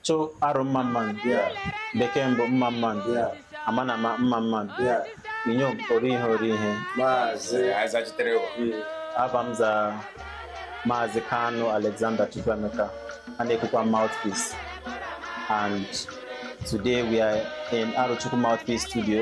chụ arụ mma mma nụ bekee mbụ mma mma nụ ama na ama mma mma nụ inyom ori ihe ori ihe maazị azachitere wo ava m za maazị kanu alexander chukwuemeka a na-ekukwa mouthpiece and today we are in arochukwu mouthpiece studio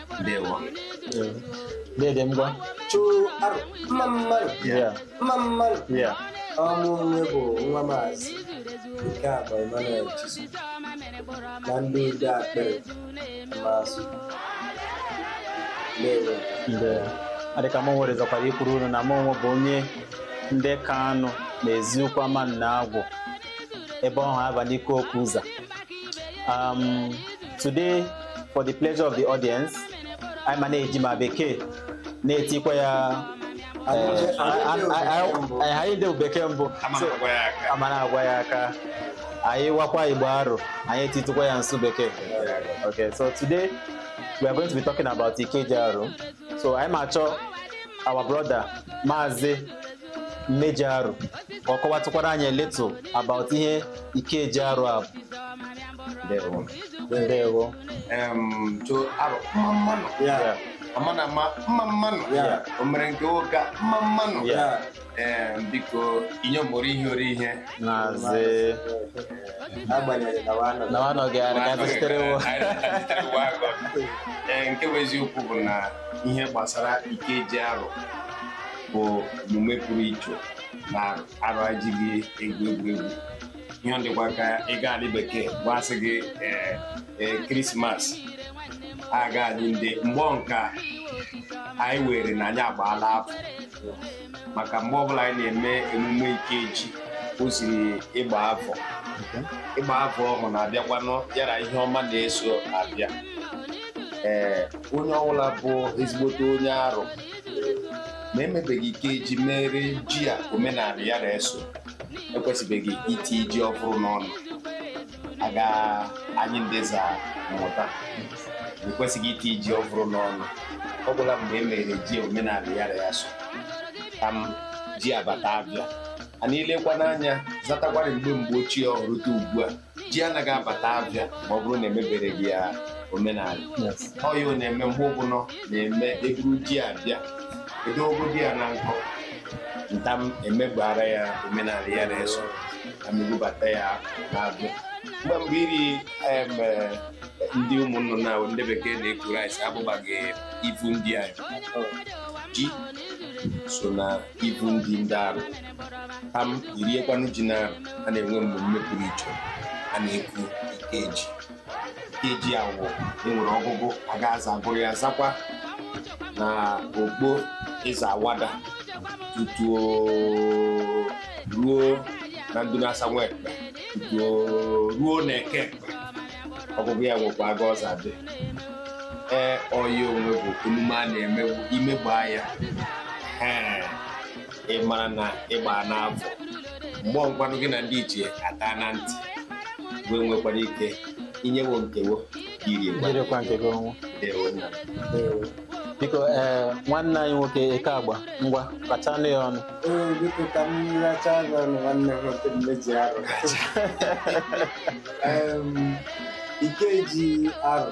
ndewo dede ngwa chụụ arụ mma mma nụ Yeah. mma mma nụ Yeah. mụ onwe bụ nwa maazị nke a bụ Emmanuel Chisu na ndị ide akpịrị maazị ndewo Nde. adịka m nwere zọkwara ikwuru unu na m onwe bụ onye nde kanu na eziukwu amannagwu ebe ọhụ abalị ike okwu ụzọ um, Today, for the pleasure of the audience, anyị ma na-eji ma bekee na-etikwa ya eh, anyị anyị nde wụ bekee mbụ So, a ma na-agwa ya aka anyị wakwa igbo arụ anyị etitụkwa ya nsụ bekee okay so today we are going to be talking about ikeji arụ so anyị ma achọ our brother maazị mmeji arụ ka ọ kọwatụkwara anyị a little about ihe ikeji arụ a bụ ndewo ndewo Em, to arụ mma mma nụ ya ama na ama mma mma nụ Ya. o mere nke nwoke a, mma mma nụ Ya. Em, biko inyom ori ihe ori ihe maazị agbanyeghị na wa anọ na ọ nọghị ya ka anyị zachitere wo Anyị zachitere wo agụ. Ee, nke bụ eziokwu bụ na ihe gbasara ikeji arụ bụ emume pụrụ iche na arụ ajighị egwu egwuregwu ihe dịkwa ka ị gaa ali bekee wa sị gị ee, ee, krismas a gaa ali ndị mgbọ nka anyị were na anyị agbaala afọ maka mgbe ọbụla anyị na-eme emume ikeji o ziri ịgba afọ ịgba afọ ọhụrụ na-abịakwanụ ya ra ihe ọma na-eso abịa ee onye ọbụla bụ ezigbote onye arụ ma emebeghị ikeji mere ji a omenala ya na-eso ekwesịbeghị iti ji ọvụrụ n'ọnụ aga anyị nde za amụta ekwesịghị iti ji ọvụrụ n'ọnụ ọ gwụla mgbe e mere ji omenala ya ra ya so tam ji abata abịa a na-elekwa n'anya zatakwarị mgbe mgbe ochie ọhụ rute ugbu a ji anaghị abata abịa ma ọ bụrụ na emebereghị ya omenala Yes. ọ ya ọ na-eme mgbe ọbụla na-eme eburu ji abịa edogodi ya na nkọ ntam emegbara ya omenala ya na-eso a ma ebubata ya na-abịa mgbe mgbe iri em, eh, ndi ụmụ nnụnụ ndị bekee na-eku rice abụbaghị ivu ndi anyị ji so na ivu ndi ndị arụ tam iriekwanụ ji na a na-enwe mmemme pụrụ iche a na-eku ikeji ikeji awụ e nwere ọgụgụ a ga-aza agụrụ ya zakwa na okpo ịza awada tutu ruo na ndụlasa nwa ekpe tutu ruo na eke ekpe ọgụgụ ya nwekwa aga ọza dị ee ọya onwe bụ emume a na-eme bụ imegba ya ee ị mara na ịgba n'avọ mgbe ọgwanụ gị na ndị ichie ata na ntị wee nwekwara ike inye wo nke wo iri egwu jirikwa nke gị ọnwụ Ndewo nna m. Ndewo. biko ee nwanne anyị nwoke eke agba ngwa rachanụ ya ọnụ Ee, biko ka m rachanụ ọnụ nwanne m nwoke mmeji Arọ Em, Ikeji Arọ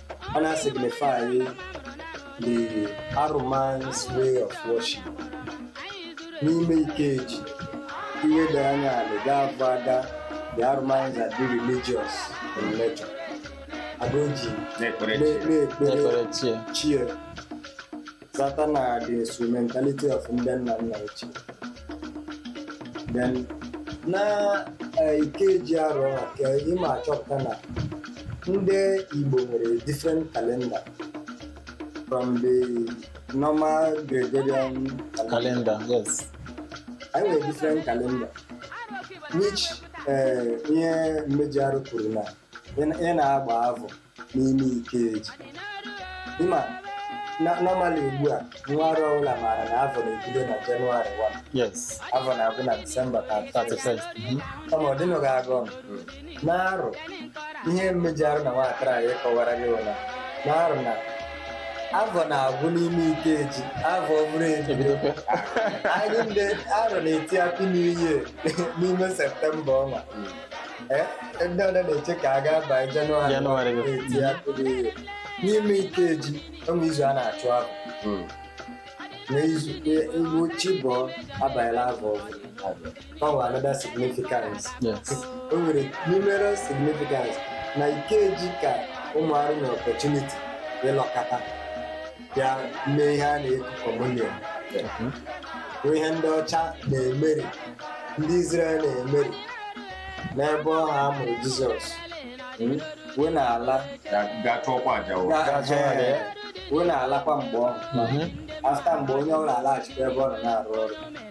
ọ na-signify the Aro man's way of worship n'ime Ikeji i leda anya ala ị ga-avụ aga the Aro mans are the religious in nature aga o ji na-ekpere na- chi. na-ekpere na-ekpere chi ya. chi ya site na the instrumentality of ndị nna nna ochie then na eh, Ikeji Arọ a ka ị ma-achọpụta na ndị Igbo nwere different calendar from the normal gregorian calendar Calendar, yes. anyị nwere different calendar which eh, ihe mmeji Arọ kwuru na ị na- ị na-agba avọ n'ime Ikeji ị ma na normally ugbu a nwa Arọ ọbụla maara na avọ na-ebido na Jenụwarị 1 yes avọ na-agwụ na Disemba 31 31st mhm. kama ọ dịnụghị aga ọnụ n'Arọ ihe mmeji Arọ na nwatara anyị kọwara gị bụ na n'Arọ na avọ na-agwụ n'ime Ikeji avọ ọhụrụ ebido ebidokwe anyị ndị Arọ na-eti Happy New Year n'ime Septemba ọnwa Eh, ndị ọdọ na-eche ka a gaa banye Jenụwarị Jenụwarị. na-eti Happy New Year. n'ime ikeji e nwe izu a na-achụ avọ Mm. na izu iwu chi bọọ abanyela avọ ọhụrụ. O nwere another significance Yes. o nwere numerous significance na ikeji ka ụmụ Arọ na opportunity ịlọkọta ya mee ihe a na-eku communion bụ ihe ndị ọcha na-emeri ndị Izrel na-emeri mgbe ọhụ a mụrụ Jizọs wee na-ala gaa chụọkwa aja o. gaa- Ga-achọ ya. ee, wee na-alakwa mgbe ọhụ afta mgbe onye ọbụla alaghachikwa ebe ọ nọ na-arụ ọrụ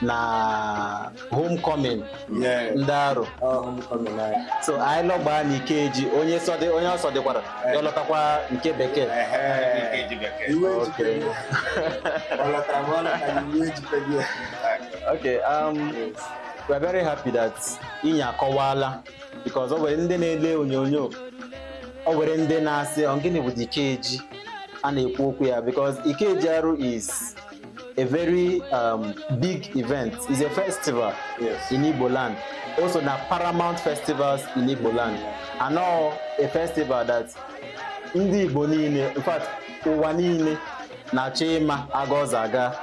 na homecoming Yeah. ndị arụ Ọ homecoming anyị. so anyị lọgbaa na ikeji onye sọdị onye ọsọ dịkwara ya lọtakwa nke bekee Ehe. Iwe Okay. ejikere. Ọ lọtara ma ọ lọtara iwe ejikere ya. okay um, we're very happy that inyi akọwala because o nwere ndị na-ele onyonyo o nwere ndị na-asị "Ọ, gịnị bụ the ikeji a na-ekwu okwu ya because ikeji arụ is a very um, big event. It's a festival yes. in Igbo land. Also, the paramount festivals in Igbo land. And now a festival that ndị Igbo niile, in fact, ụwa niile na-achọ ịma aga ọ za aga.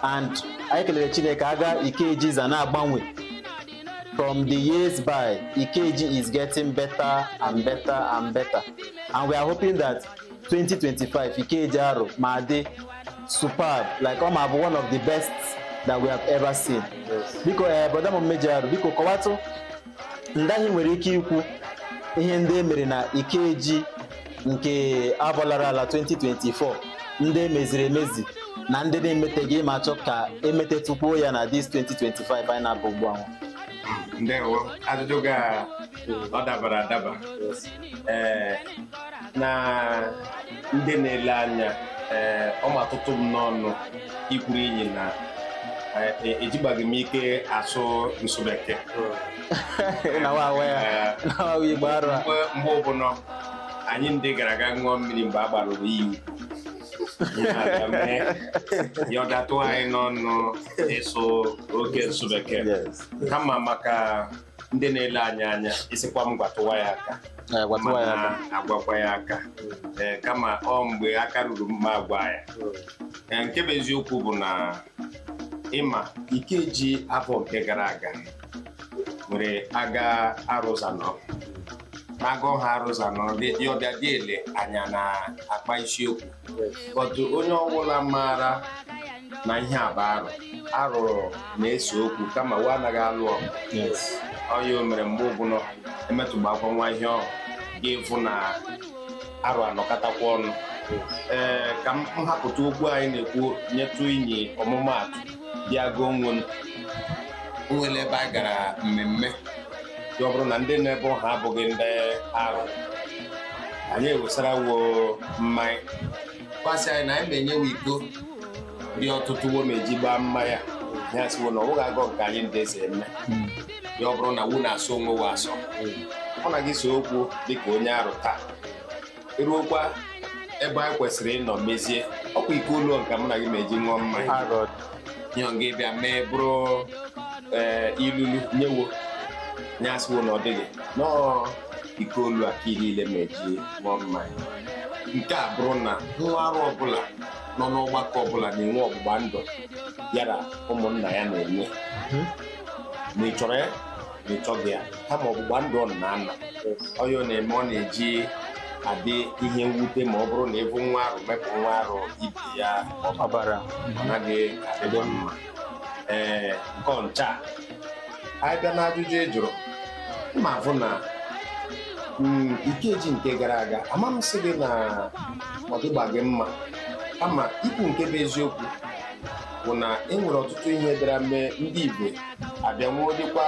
And anyị kelere Chineke aga Ikeji za na-agbanwe. From the years by, Ikeji is getting better and better and better. And we are hoping that 2025 Ikeji Aro ma dị superb like ọ ma bụ one of the best that we have ever seen biko ee eh, brother m mmeji arụ biko kọwatụ ndị anyị nwere ike ikwu ihe ndị e mere na Ikeji nke avọ lara ala 2024 ndị emeziri emezi na ndị na-emeteghị ma a chọọ ka emetetukwuo ya na this 2025 anyị na-aba ugbu ahụ ọ dabara adaba ee na ndị na-ele anya ee ọ ma tụtụ m n'ọnụ ikwuru inyi na e- ejigbaghị m ike asụ nsụ bekee na wa awa ya Ee, na wa awa igbo arụ a mgbe mgbe ọbụla anyị ndị gara aga ṅụọ mmiri mgbe a gbarụrụ iyi Anyị na-aga mee ya ọ datụ anyị n'ọnụ ịsụ oke nsụ bekee Yes. kama maka ndị na-ele anyị anya ị sịkwa m gwatụwa ya aka Eh, gwatụwa ya aka. mana agwakwa ya aka Ee, kama ọ mgbe aka ruru mma agwa ya Ee, nke bụ eziokwu bụ na ị ma Ikeji afọ nke gara aga nwere aga arụ za nọ aga ọha arụ za nọdị ya ọbịa dị ele anya na akpa isiokwu but onye ọbụla maara na ihe a bụ arụ arụ na-ese okwu kama wa anaghị alụ ọgụ Yes. ọ ya mere mgbe ọbụla emetụgbakwa nwa ihe ọhụ ga ịvụ na arụ anọkọtakwa ọnụ ee ka m hapụtụ okwu anyị na-ekwu nyetụ inyi ọmụmaatụ bịa gụọ onwe m o nwere ebe a gara mmemme ọ bụrụ na ndị nọ ebe ahụ abụghị ndị arụ anyị ewesara wo mmanya kwasị anyị na anyị ma enye wo iko dị ọtụtụ wo ma eji gbaa mmanya ya sị wo na ọwụghị agọ nke anyị ndị eze eme ya ọ bụrụ na wu na-asọ onwe wa asọ ọ na gị so okwu dịka onye arụ taa ruokwa ebe anyị kwesịrị ịnọ mezie ọkwa iko olu nke mụ na gị ma-eji ṅụọ mmanya nyọ gị bịa mee bụrụ ee, ilulu nyewo ya asị wo na ọ dịghị nọọ iko olu a ka ị niile ma-eji ṅụọ mmanya nke a bụrụ na nwa arụ ọbụla nọ n'ọgbakọ ọbụla na-enwe ọgbụgba ndụ ya na ụmụnna ya na-enwe ma ị chọrọ ya ma ị chọghị ya kama ọgbụgba ndụ ọ na-ana onye ọ na-eme ọ na-eji adị ihe mwute ma ọ bụrụ na ị bụ nwa arụ mepụ nwa arụ ibe ya ọbara ọ naghị adịdị mma ee nke ọncha anyị bịa n'ajụjụ ị jụrụ ma-afụ na mm, ikeji nke gara aga ama m sị gị na ọ dịgbaghị mma kama ikwu nke bụ eziokwu bụ na e nwere ọtụtụ ihe bịara mee ndị igbo abịanwuo dịkwa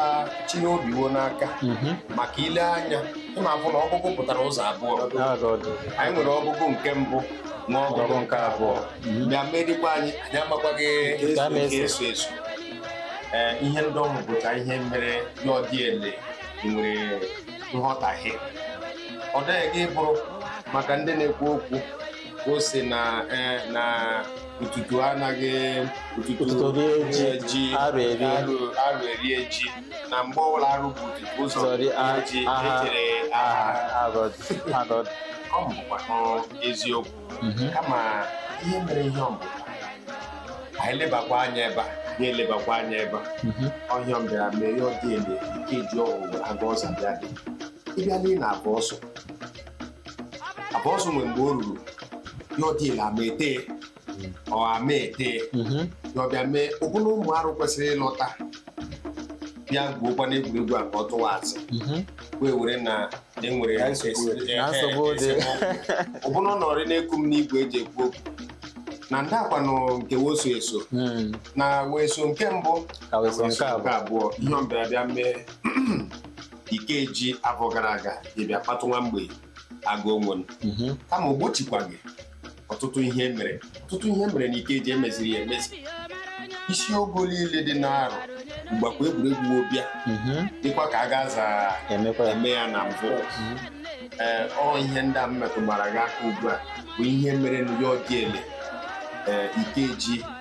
chịnye obi wo n'aka maka i lee anya ị na-afụ na ọgụgụ pụtara ụzọ abụọ anyị nwere ọgụgụ nke mbụ na ọgụgụ nke abụọ bịa mee dịkwa anyị anyị amakwaghị Ka a na-eso. nke eso eso ee ihe ndị ọhụ bụcha ihe mere ya ọ dị ele e nwere nghọtahie ọ dịghị gị bụrụ maka ndị na-ekwu okwu ka o si na eh, na Ututu anaghị Ututu Ututu rie ji, rie ji arụ erie. arụ arụ erie ji na mgbe ọbụla arụ bu Ututu ụzọ Sorry, rie a- ji aha- echere aha aha agọdụ agọdụ ọ bụkwanụ eziokwu kama ihe mere ihe ọ bụ anyị lebakwa anya ebe a anyị elebakwa anya ebe a ọ ihe a bịara mee ya ọ dị ele ikeji ọhụ aga ọzọ bịa dị ịbịa n'ile afọ ọsụ afọ ọsụ nwere mgbe o ruru ya ọ dị ele ama ete ọ ama ete ya ọ bịa mee ọbụna ụmụ arụ kwesịrị ịlọta bịa gwuokwa n'egwuregwu a ka ọ tụwa azụ wee were na enwere Na nsogbu dị. Na nsogbu dị. ọbụna ọ nọrị na-eku m n'igwe eji ekwu okwu na ndị a kwanụ nke wo so eso na weso nke mbụ Ka weso nke abụọ. abụọ ihe ọ bịara bịa mee ikeji afọ gara aga ị bịa kpatụ nwa mgbei agụ onwe Mhm. kama o gbochikwaghị ọtụtụ ihe e mere ọtụtụ ihe e mere na ikeji emeziri ya emezi isi ogo niile dị n'arụ mgbakwa egwuregwu ọ bịa Mhm. dịkwa ka a ga-aza emekwa ya eme ya na mbụ ee ọ ihe ndị a m metụgbara gị aka ugbu a bụ ihe mere na ya ọ dị ele ee ikeji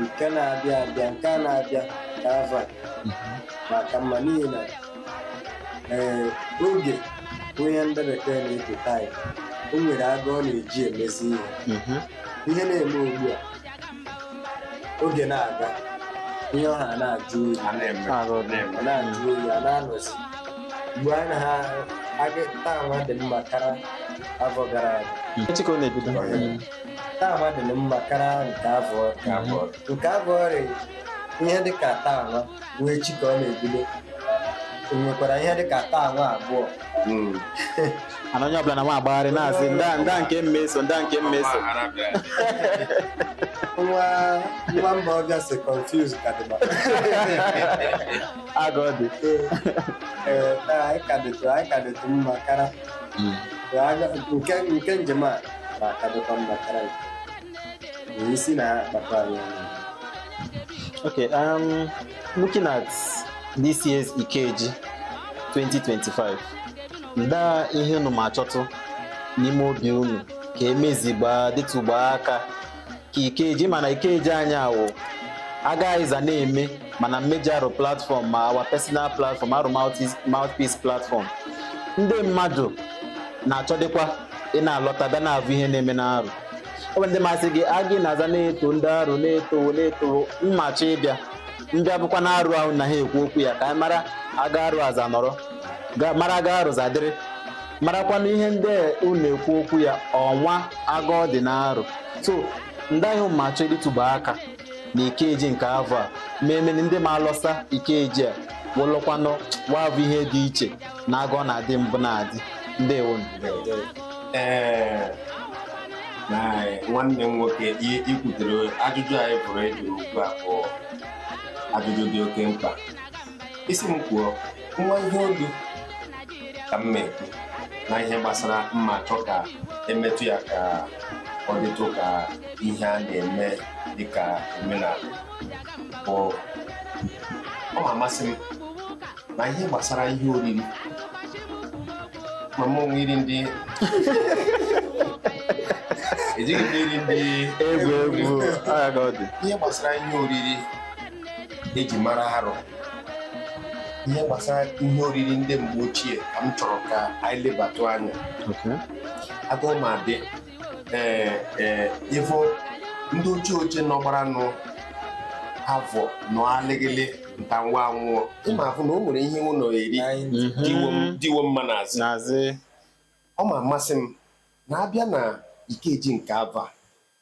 nke na-abịa abịa nke a na-abịa ka avọ a ma aka mma n'ihi na ee oge bụ ihe ndị bekee na-ekwu taịm o nwere aga ọ na-eji emezi ihe Mhm. ihe na-eme ugbu a oge na-aga ihe ọha na-ajụ oyi A na-eme. Arụ dị. ọ na-ajụ oyi ọ na-anọzi mgbe a na ha taa nwa dị mma kara afọ gara aga Echi ka ọ na-ebido. taa nwa dị mma kara nke afọ nke afọ nke afọ ọrịa ihe dịka taa nwa wụ echi ka ọ na-ebido e nwekwara ihe dịka taa nwa abụọ Mm. ana onye ọbụla na nwa agbagharị na-asị nda nda nke m ma eso nda nke m ma eso nwa nwa mba ọbịa si confuse ka dị maka aga ọ dị ee taa anyị ka dịtụ anyị ka dịtụ mma kara nke nke njem a ma ka dịkwa mma kara nke isi na-akpakọ anyị ọnụ Okay, um, looking at this year's Ikeji 2025, ndaa ihe unu ma achọtụ n'ime obi unu ka emezigbaa detụgbaa aka ka ikeji mana ikeji anyị awụ aga ịza na-eme mana m ma eji Arụ platform ma our personal platform Arụ mouthpiece platform ndị mmadụ na-achọdịkwa ị na-alọta bịa na-avụ ihe na-eme n'Arụ ọ bụ ndị masị gị aga a na-aza na-eto ndị Arụ na-eto na-eto ma achọ ịbịa bịa avụkwa na Arụ ahụ na ha ekwu okwu ya ka anyị mara aga Arụ aza nọrọ mara aga Arụ zadịrị marakwanụ ihe ndị a unu ekwu okwu ya ọnwa aga ọ dị n'Arụ so nda ihe unu ma achọ idetụgba aka na ikeji nke afọ a ma emeni ndị ma alọsa ikeji a wụlụkwanụ wa avụ ihe dị iche na aga ọ na-adị mbụ na-adị ndewo Ee, na nwanne m nwoke i- i kwutere ajụjụ anyị pụrụ ịjụ ugbu a bụ ajụjụ dị oke mkpa ị sị m kwuo nwa ihe olu ka m na-ekwu na ihe gbasara m ma achọ ka emetụ ya ka ọ dịtụ ka ihe a na-eme dịka omenala bụ ọ ma amasị m na ihe gbasara ihe oriri ma m o nwe iri ndị ejighị m iri ndị egwu egwu agha ka ọ dị ihe gbasara ihe oriri eji mara Arụ ihe gbasara ihe oriri ndị mgbe ochie ka m chọrọ ka anyị lebatụ anya Okay. aga ọ ma dị ee ee ị vụ ndị ochie ochie nọgbaranụ avọ nọ alịgịlị nta nwa anwụọ ị ma avụ na o nwere ihe wo na-eri Mhm. dị wo m- dị wo mma n'azị N'azị. ọ ma amasị m na abịa na ikeji nke avọ a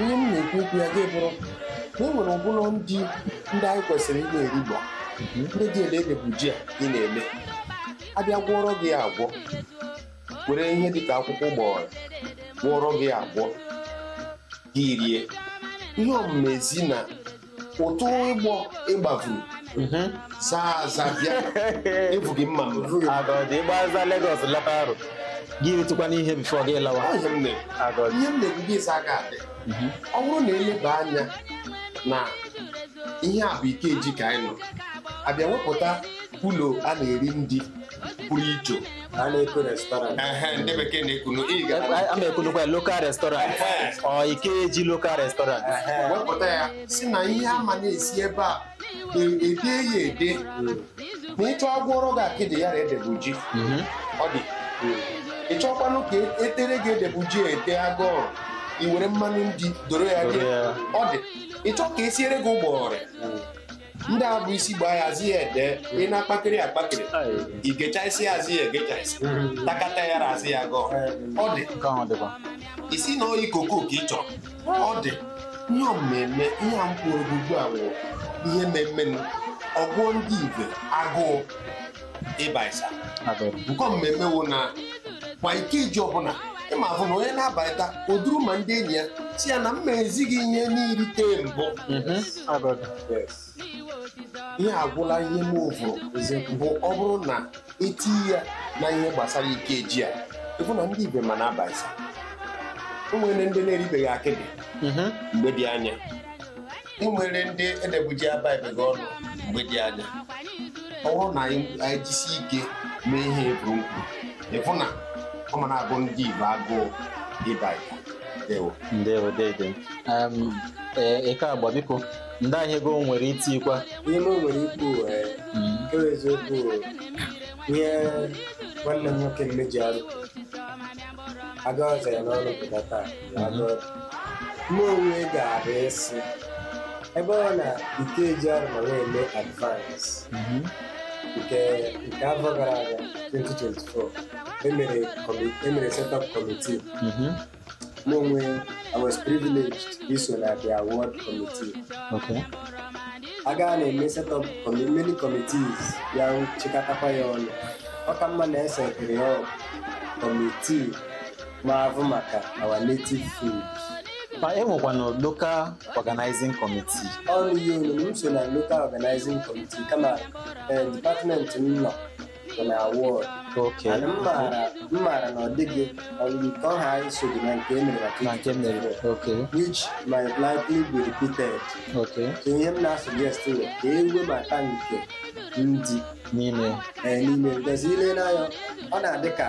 ihe m na-ekwu okwu ya gị bụrụ na e nwere ọbụla ndi ndị anyị kwesịrị ị na-erigba ndị dị ele edebuji a ị na-eme abịa gwọrọ gị ya agwọ were ihe dịka akwụkwọ ụgbọghọrọ gwọrọ gị ya agwọ gị rie ihe ọmụma ezi na ụtụ ịgbọ ịgbafuru zaa aza bịa ebughị mma mma Agọdị ịgbaza Lagos lọta Aro gị ritụkwanụ ihe before gị lawa Ọ ihe m na-ekwu. Agọdị ihe m na-ekwu gị ịsa aka adị ọ bụrụ na eleba anya na ihe a bụ Ikeji ka anyị nọ abịa wepụta ụlọ a na-eri ndi pụrụ iche a na-eku restaurant Ehe, ndị bekee na-ekunu ị ga a ma ekunukwa ya local restaurant ọ Ikeji local restaurant wepụta ya si na ihe a ma na-esi ebe a e- ede ya ede ma ị chọ agwọrọ gị akịdị ya edebuji ọ dị ị chọkwanụ ka e- etere gị edebuji ete agụụ i were mmanụ ndi doro ya Doro dị ya. ọ dị ị chọ ka esiere gị ụgbọghọrị ndị a bụ isi gbaa ya zi ya ede ị na-akpakịrị akpakịrị igechaisi ya zi ya egechaisi takata ya razi ya gọọ ọ dị Nke ahụ dịkwa. isi na oyi koko ka ị chọrọ ọ dị ihe mmemme ihe a m kwuru ugbu a wụ ihe mmemme ọ gụọ ndị ibe agụụ ịbaịsa nke mmemme wụ na kwa Ikeji ọbụla ị ma afụ na onye na-abaịta oduru ma ndị enyi ya si ya na m ma ezi gị ihe n'irite mbụ ihe agwụla ihe m vụrụ bụ ọ bụrụ na eti ya na ihe gbasara Ikeji a ị fụ na ndị ibe ma na-abaịsa o nwere ndị na-eribeghị akịdị mgbe dị anya e nwere ndị edebuji abaịbeghị ọnụ mgbe dị anya ọ bụrụ na anyị anyị jisi ike mee ihe ekwuru nkwu ịfụ na ọ ma na-agụ ndị ibe agụụ ịba igbo ewo ndewo dede Em, ee, eke agba biko ndị ahịa ego nwere itikwa ihe m nwere ikwu ee, nke bụ eziokwu bụ ihe nwanne m nwoke mmeji Aro aga ọza ya n'ọrụ pụta taa mụ onwe ga-abụ ịsị ebe ọ na Ikeji Aro ma na-eme advance nke nke afọ gara aga 2024 emere kọmi- emere setup committee mụ onwe I was privileged iso na the award committee Okay. a gaa na-eme setup commi- many committees ya chịkọtakwa ya ọnụ ọ ka mma na esetere ya committee na-ahụ maka our native food ma e nwekwanụ local organizing committee ọrụ ihe onyonyo m so na local organizing committee kama eh, department m nọ bụ na award okay mana m maara m maara na ọ dịghị ọrụ nke ọha anyị so dị na nke e mere na nke m mere okay which might likely be repeated okay so ihe m na-asuggest bụ ka e webata nke ndị n'ime eh, n'ime because i lee anya ọ na-adị ka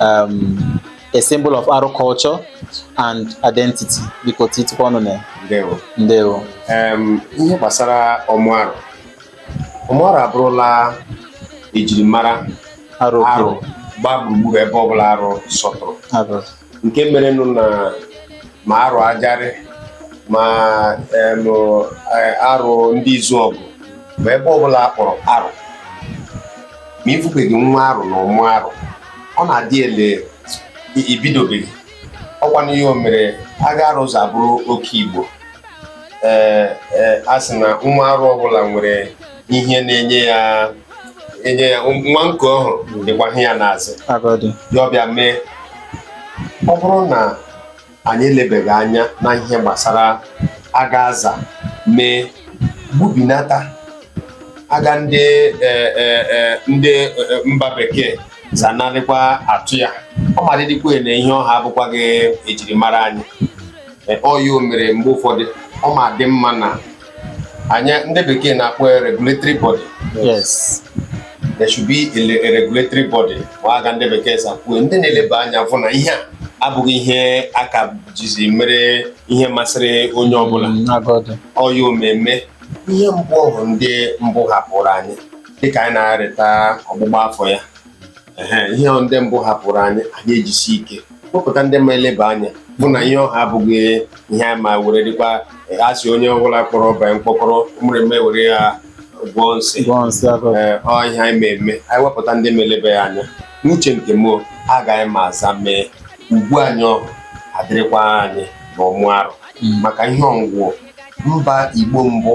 um, a symbol of arụ culture and identity biko titikwa ọnụ na ya ndewo ndewo Em, ihe gbasara ọmụ arụ ọmụ arụ abụrụla ejirimara arụ arụ okwu gbaa gburugburu ebe ọbụla arụ sọtụrụ arụ nke merenụ na ma arụ ajarị ma em, eh, arụ ndị Izuọgụ ma ebe ọbụla a kpọrọ arụ ma ị fụbeghị nwa arụ na ọmụ arụ ọ na-adị ele i bidobeghị ọkwanụ ya mere aga arụ ụzọ abụrụ oke igbo ee ee a sị na nwa arụ ọbụla nwere ihe na-enye ya enye ya nwa nke ọhụ dịkwa ihe ya na-azụ agadi ya ọbịa mee ọ bụrụ na anyị elebeghị anya na ihe gbasara aga aza mee gbubinata aga ndị e, e, e, ndị e, e, mba bekee zanarịkwa atụ ya ọ ma dịdịkwa na ihe ọha abụkwaghị ejirimara anyị E, ọ ya o mere mgbe ụfọdụ ọ ma dị mma na anyị ndị bekee na-akpọ ya regulatory body yes there should be a le- a regulatory body ma aga ndị bekee za kwuo ndị na-eleba anya fụ na ihe a abụghị ihe aka jizi mere ihe masịrị onye ọbụla agọdụ ọya omeme ihe mbụ ọhụ ndị mbụ hapụrụ anyị dịka anyị na-arịta ọgbụgba afọ ya ihe ndị mbụ hapụrụ anyị anyị ejisi ike kpọpụta ndị ma eleba anya fụ na ihe ọha abụghị ihe anyị ma were dịkwa a sị onye ọbụla kpọrọ ọba mkpọkọrọ mreme were ya gwọọ nsị ọ ihe anyị ma eme anyị wepụta ndị ma eleba ya anya n'uche nke m aga anyị ma aza mee ugwu anyị ọhụ adịrịkwa anyị na ọmụ arụ hmm. maka ihe ọgwụgwọ mba igbo mbụ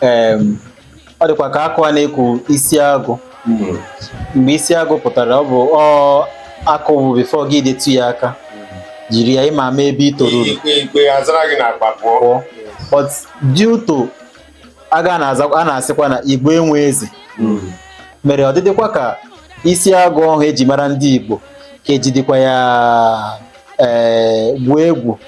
em, ọ dịkwa ka akwa a na-eku isi agụ mgbe isi agụ pụtara ọ bụ ọ akwa bụ before gị detu ya aka jiri ya ị ma ama ebe i toruru ikpe ikpe azara gị n'akpa pụọ pụọ but due to aga na-aza a na-asịkwa na igbo enwe eze mere ọ dịdịkwa ka isi agụ ọhụ eji mara ndị igbo ka ejidikwa ya ee gwuo egwu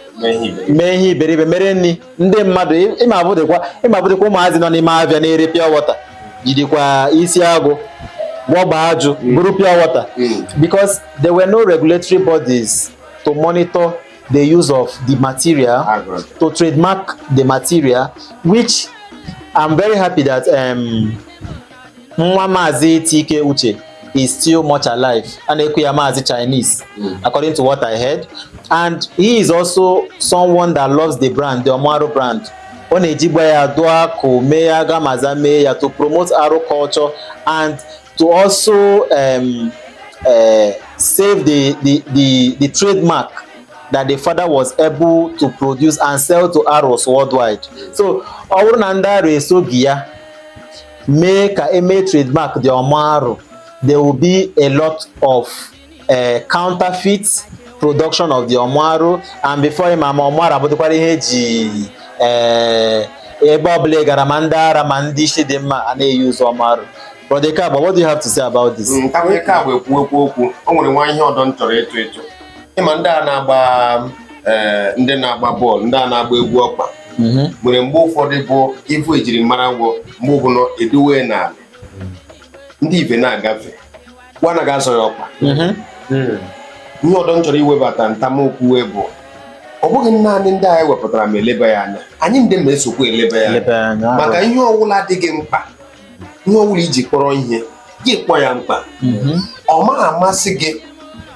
mee ihe iberibe mere nri ndị mmadụ ịmabụdịkwa ụmụazị nọ n'ime Abịa na-ere pure water jidikwa isi agụ gwọgba ajụ buru pure water because there were no regulatory bodies to monitor the use of the material to trademark the material which I'm very happy that um, nwa maazị T.K. Utchay is still much alive a na-eku ya maazị Chinese hmm. according to what I heard and he is also someone that loves the brand the Ọmụ Arụ brand ọ na-ejigba ya dụọ akụ mee ya gamaza mee ya to promote Arụ culture and to also um, uh, save the, the, the, the trademark that the father was able to produce and sell to Aros worldwide so ọ bụrụ na ndị Arụ esoghị ya mee ka e mee trademark the Ọmụ Arụ there will be a lot of uh, counterfeit production of the Ọmụ Arụ and before ị ma ma Ọmụ Arụ abụdịkwara ihe e ji eh, ebe ọbụla gara ma ndị ara ma ndị isi dị mma a na-e-use Ọmụ Arụ Brother Eke Agba, what do you have to say about this? Mm, ka onye Eke Agba ekwu ekwu okwu o nwere nwa ihe ọdọ m chọrọ ịtụ ịtụ ịma ndị a na-agba eh, ndị na-agba bọọlụ ndị a na-agba egwu ọkpa mhm. nwere mgbe ụfọdụ bụ ị vụ ejirimara gwọ mgbe ọbụla e dowe n'ala ndị ibe na-agafe wa anagha azọ ya ọkpa mhm. hmm. ihe ọdọ m chọrọ iwebata ntam okwu wee bụ ọ bụghị naanị ndị anyị wepụtara ma eleba ya anya anyị ndị ma esokwa eleba ya anya maka ihe ọwụla adịghị mkpa ihe ọ bụla i ji kpọrọ ihe gị kpọ ya mkpa ọ ma amasị gị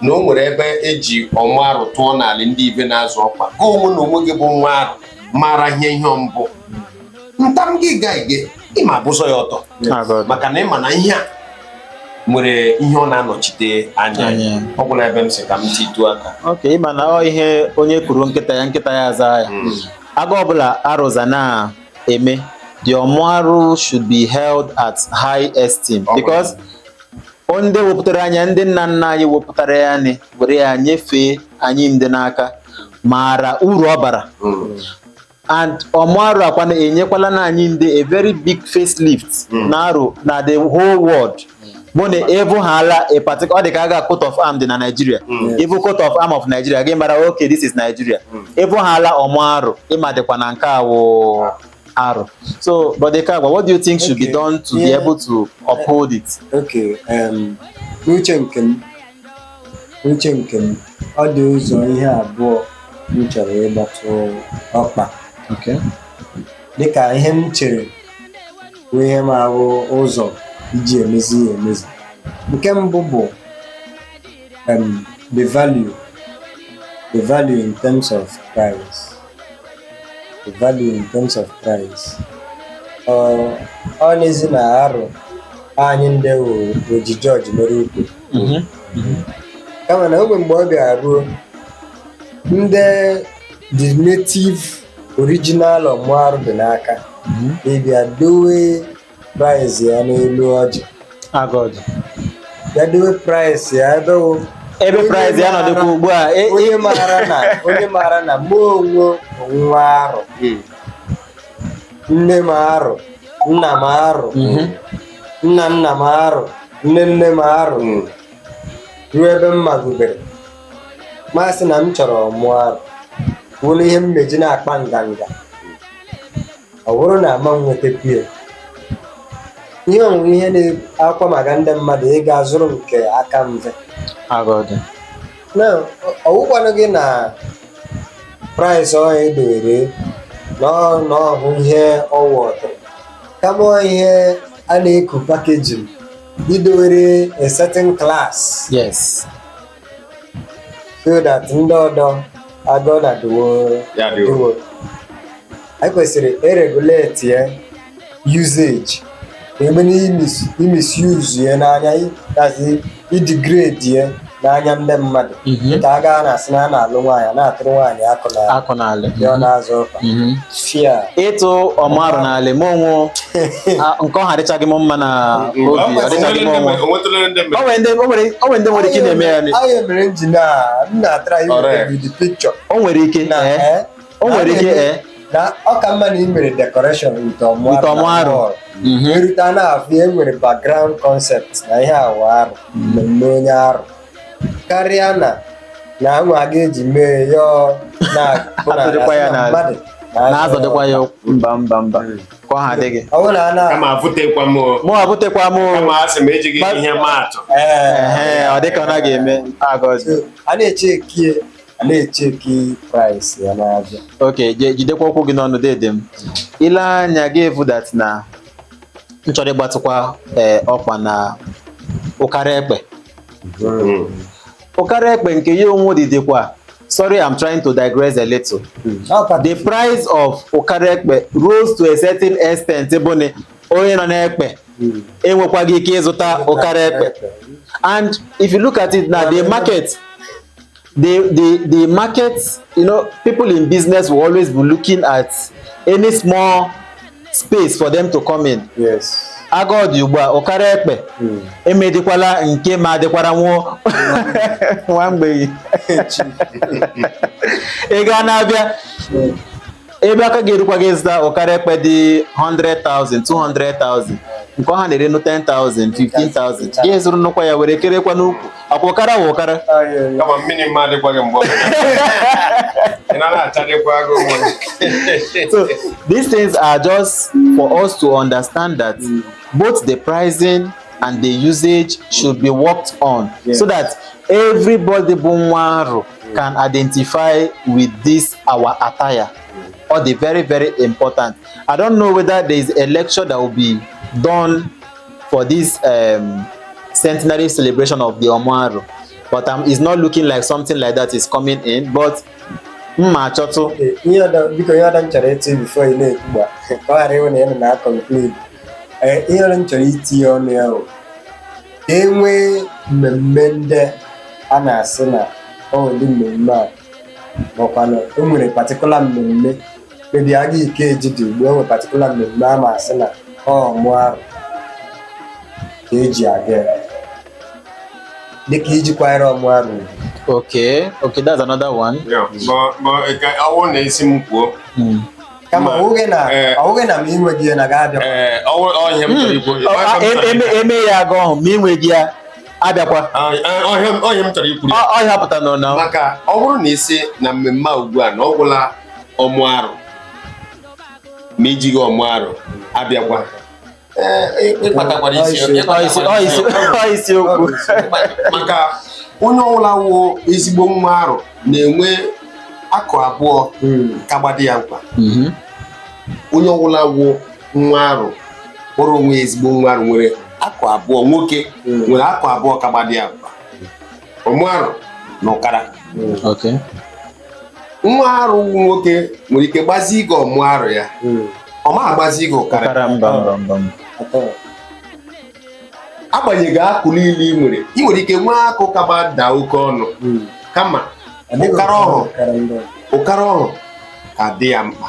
na o nwere ebe e ji Ọmụ Arụ tụọ n'ala ndị ibe na-azọ ọkpa gị onwe na onwe gị bụ nwa Arụ mara ihe ihe mbụ ntam gị ga ige ị ma buzo ya ọtọ maka na ị ma na ihe a nwere ihe ọ na-anọchite anya Anya. ọ gwụla ebe m sị ka m titụ aka ok ị ma na ọ ihe onye kuru nkịta ya nkịta ya aza ya aga ọbụla arụza na eme the Ọmụ Arụ should be held at high esteem because ndị wepụtara anyị a ndị nna nna anyị wepụtara ya nị were ya nyefee anyị ndị n'aka maara uru ọ bara and Ọmụ Arụ akwa na-enyekwala na anyị ndị a very big facelift na Arụ na the whole world bụ na ị vụhala a particular ọ dị ka aga coat of arm dị na Nigeria ị vụ coat of arm of Nigeria gị mara okay this is Nigeria ị vụhala Ọmụ Arụ ị madịkwa na nke a wụ Arụ so Brother Eke Agba what do you think should be Okay. done to be Yeah. able to uphold it Okay, um, n'uche nke m n'uche nke m ọ dị ụzọ ihe abụọ m chọrọ ịgbatụ ọkpa okay dịka ihe m chere bụ ihe m ahụ ụzọ iji emezi ya emezi nke mbụ bụ um, the value the value in terms of price the value in terms of price ọ ọ n'ezi na arụ anyị ndị o- oji George mere ukwu kama na ogbe mgbe ọ bịara ruo ndị the native original ọmụ arụ dị n'aka ịbịa dowe price ya n'elu ọjị agọdị bịa dowe price ya ebe wụ ebe Onye price ya maara- nọdụkwa ugbu a e- e- onye maara na onye maara na mụ wụ nwa arụ nne m arụ nna m arụ nna nna m arụ nne nne m arụ ruo ebe m magubere ma sị na m chọrọ ọmụ arụ wụrụ ihe m eji na-akpa nganga ọ bụrụ na ama m nwetakwu ya ihe ọnwụ wụ ihe na-akwa maka ndị mmadụ ịga zụrụ nke aka mfe agọdị na ọ wụkwanụghị na price ọhụ e dowere na ọ wụ ihe ọwa ọtụrụ kama ihe a na-eku packaging idowere a certain class yes so that ndị ọdọ agụ na dịwo Ya dịwo. dịwo. anyị kwesịrị iregulate ya usage ebe na imis- imisuse ya n'anya i- as i- idegrade ya n'anya ndị mmadụ mhm. ka a gaa na-asị na a na-alụ nwaanyị na-atụrụ nwaanyị akwa n'ala ya ọ na-azọ ụkwụ mhm. fia ịtụ ọmụ arụ n'ala ma onwe nke ọhụ adịchaghị m mma na obi ọ dịchaghị m ọnwụ o nwere ndị nwere ike na-eme ya o nwere ike o nwere ike ee na ọ ka mma na ị mere decoration nke ọmụ Nke ọmụ arụ. Mhm. e rute a na-afụ e nwere background concept na ihe awa wụ mmemme onye arụ karịa na na anwa a ga-eji mee ya ọ na- bụ na- Atụdịkwa ya na n'ala. mmadụ na-azọdịkwa ya ụkwụ. mba mba mba nke ọhụ adịghị ọ bụrụ na a na kama avụtekwa m o. mụ abụtekwa m o. kama a sị m ejighị ihe maatụ Ee, Ehe, ọ dịka ọ naghị eme agọzi so, a na-eche ekie a na-echeki price ya n'ahịa ok je- jidekwa okwu gị n'ọnụ dede m i lee anya ị ga-afụ that na m chọrọ ịgbatịkwa ee, ọkwa na ụkara ekpe ụkara ekpe nke ya onwe dịdịkwa sorry i'm trying to digress a little Ọkwa the price of ụkara ekpe rose to a certain extent bụ na onye nọ n'ekpe enwekwaghị ike ịzụta ụkara ekpe and if you look at it now the market the the the market you know people in business will always be looking at any small space for them to come in yes agodị ugbu a ụkara ekpe Mm. emedikwala nke ma adịkwara nwụọ nwa mgbei ị ga na-abịa ebe aka ga-erukwa gị zụta ụkara ekpe dị 100,000 200,000 nke ọha na-ere nụ 10,000 15,000 gị zụrụ nnukwu ya were kerekwa n'ukwu akwa ụkara wụ ụkara kama mmiri mma adịkwaghị mgbe ọ bụla. ị na na-achadịkwa agụ nwa so these things are just for us to understand that both the pricing and the usage should be worked on so that everybody bụ nwa arụ can identify with this our attire or the very very important i don't know whether there is a lecture that will be done for this um, centenary celebration of the ọmụ arụ but um, it's not looking like something like that is coming in but mma achọtụ biko ihe ọda m chọrọ ịtụ before ị na-ekwu gba ka ọ ghara ịwụ na ya na na-aconclude ihe ọhụ m chọrọ itinye ọnụ ya ka e nwee mmemme ndị a na-asị na ọ dị mmemme a makwana o nwere particular mmemme maybe aga Ikeji dị ugbu a e nwee particular mmemme a ma asị na ọmụ arụ ka e ji aga ya. dịka iji kwanyere ọmụ arụ ugwu. Okay, okay, that's another one. Yeah, but but ka ọ wụ na a sị m kwuo Mm. kama ọ bụghị na eh. ọ wụghị na ma inweghị ya na ga abịa ee ọ wụ- ọ ihe m chọrọ ikwu Ọ- a- e- eme eme ya aga ọhụ ma inweghị ya abịakwa Ọ- ọ- ọ ihe m- ọ ihe m chọrọ ikwu Ọ- ọ ya pụta nọ na maka ọ bụrụ na ị sị na mmemme a ugbu a na ọ gwụla ọmụ arụ ma ijighị ọmụ arụ abịakwa isiokwu maka onye ọbụla wụ ezigbo nwa arụ na-enwe akụ abụọ hmm. ka gbadi ya mkpa mhm. onye ọbụla wụ nwa arụ kpọrọ onwe ezigbo nwa arụ nwere akụ abụọ nwoke hmm. nwere akụ abụọ ka gbadi ya mkpa ọmụ arụ na ụkara Okay. nwa arụ wụ nwoke nwere ike gbazie gị ọmụ arụ ya ọ ma agbazi gị ụkara ụkara mba mba mba mba. agbanyeghị akụ niile ị nwere ị nwere ike nwee akụ kaba daa oke ọnụ kama ụkara ọhụ ụkara ọhụ ka dị ya mkpa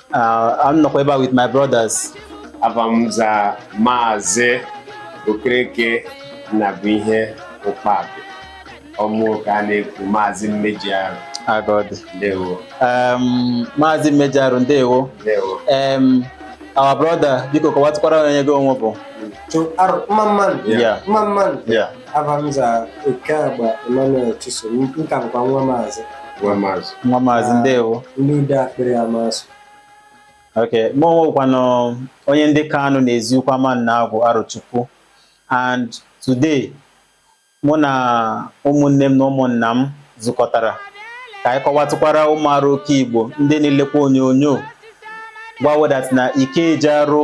Uh, a m nọkwa ebe a with my brothers. Ava m za Maazị Okereke Nnabuihe Ụkpabị ọ mụ ka na-ekwu Maazị Mmeji Arụ Agodi. ndewo Um, Maazị Mmeji Arụ ndewo. ndewo Um, our brother biko kọwatụkwara onye gị onwe bụ. to Arụ mma mma nụ Yeah. mma mma nụ Yeah. Ava m za Ekeagba Emmanuel Chisom nka bụkwa nwa maazị ndewo ndị ude akpịrị Amasụ ok mụ onwe kwanụ onye ndị Kanu na Eziukwu Amannagwụ Arochukwu and today mụ na ụmụnne m na ụmụnna m zukọtara ka anyị kọwatụkwara ụmụ arụ oke Igbo ndị na-elekwa onyonyo gwa wo that na Ikeji arụ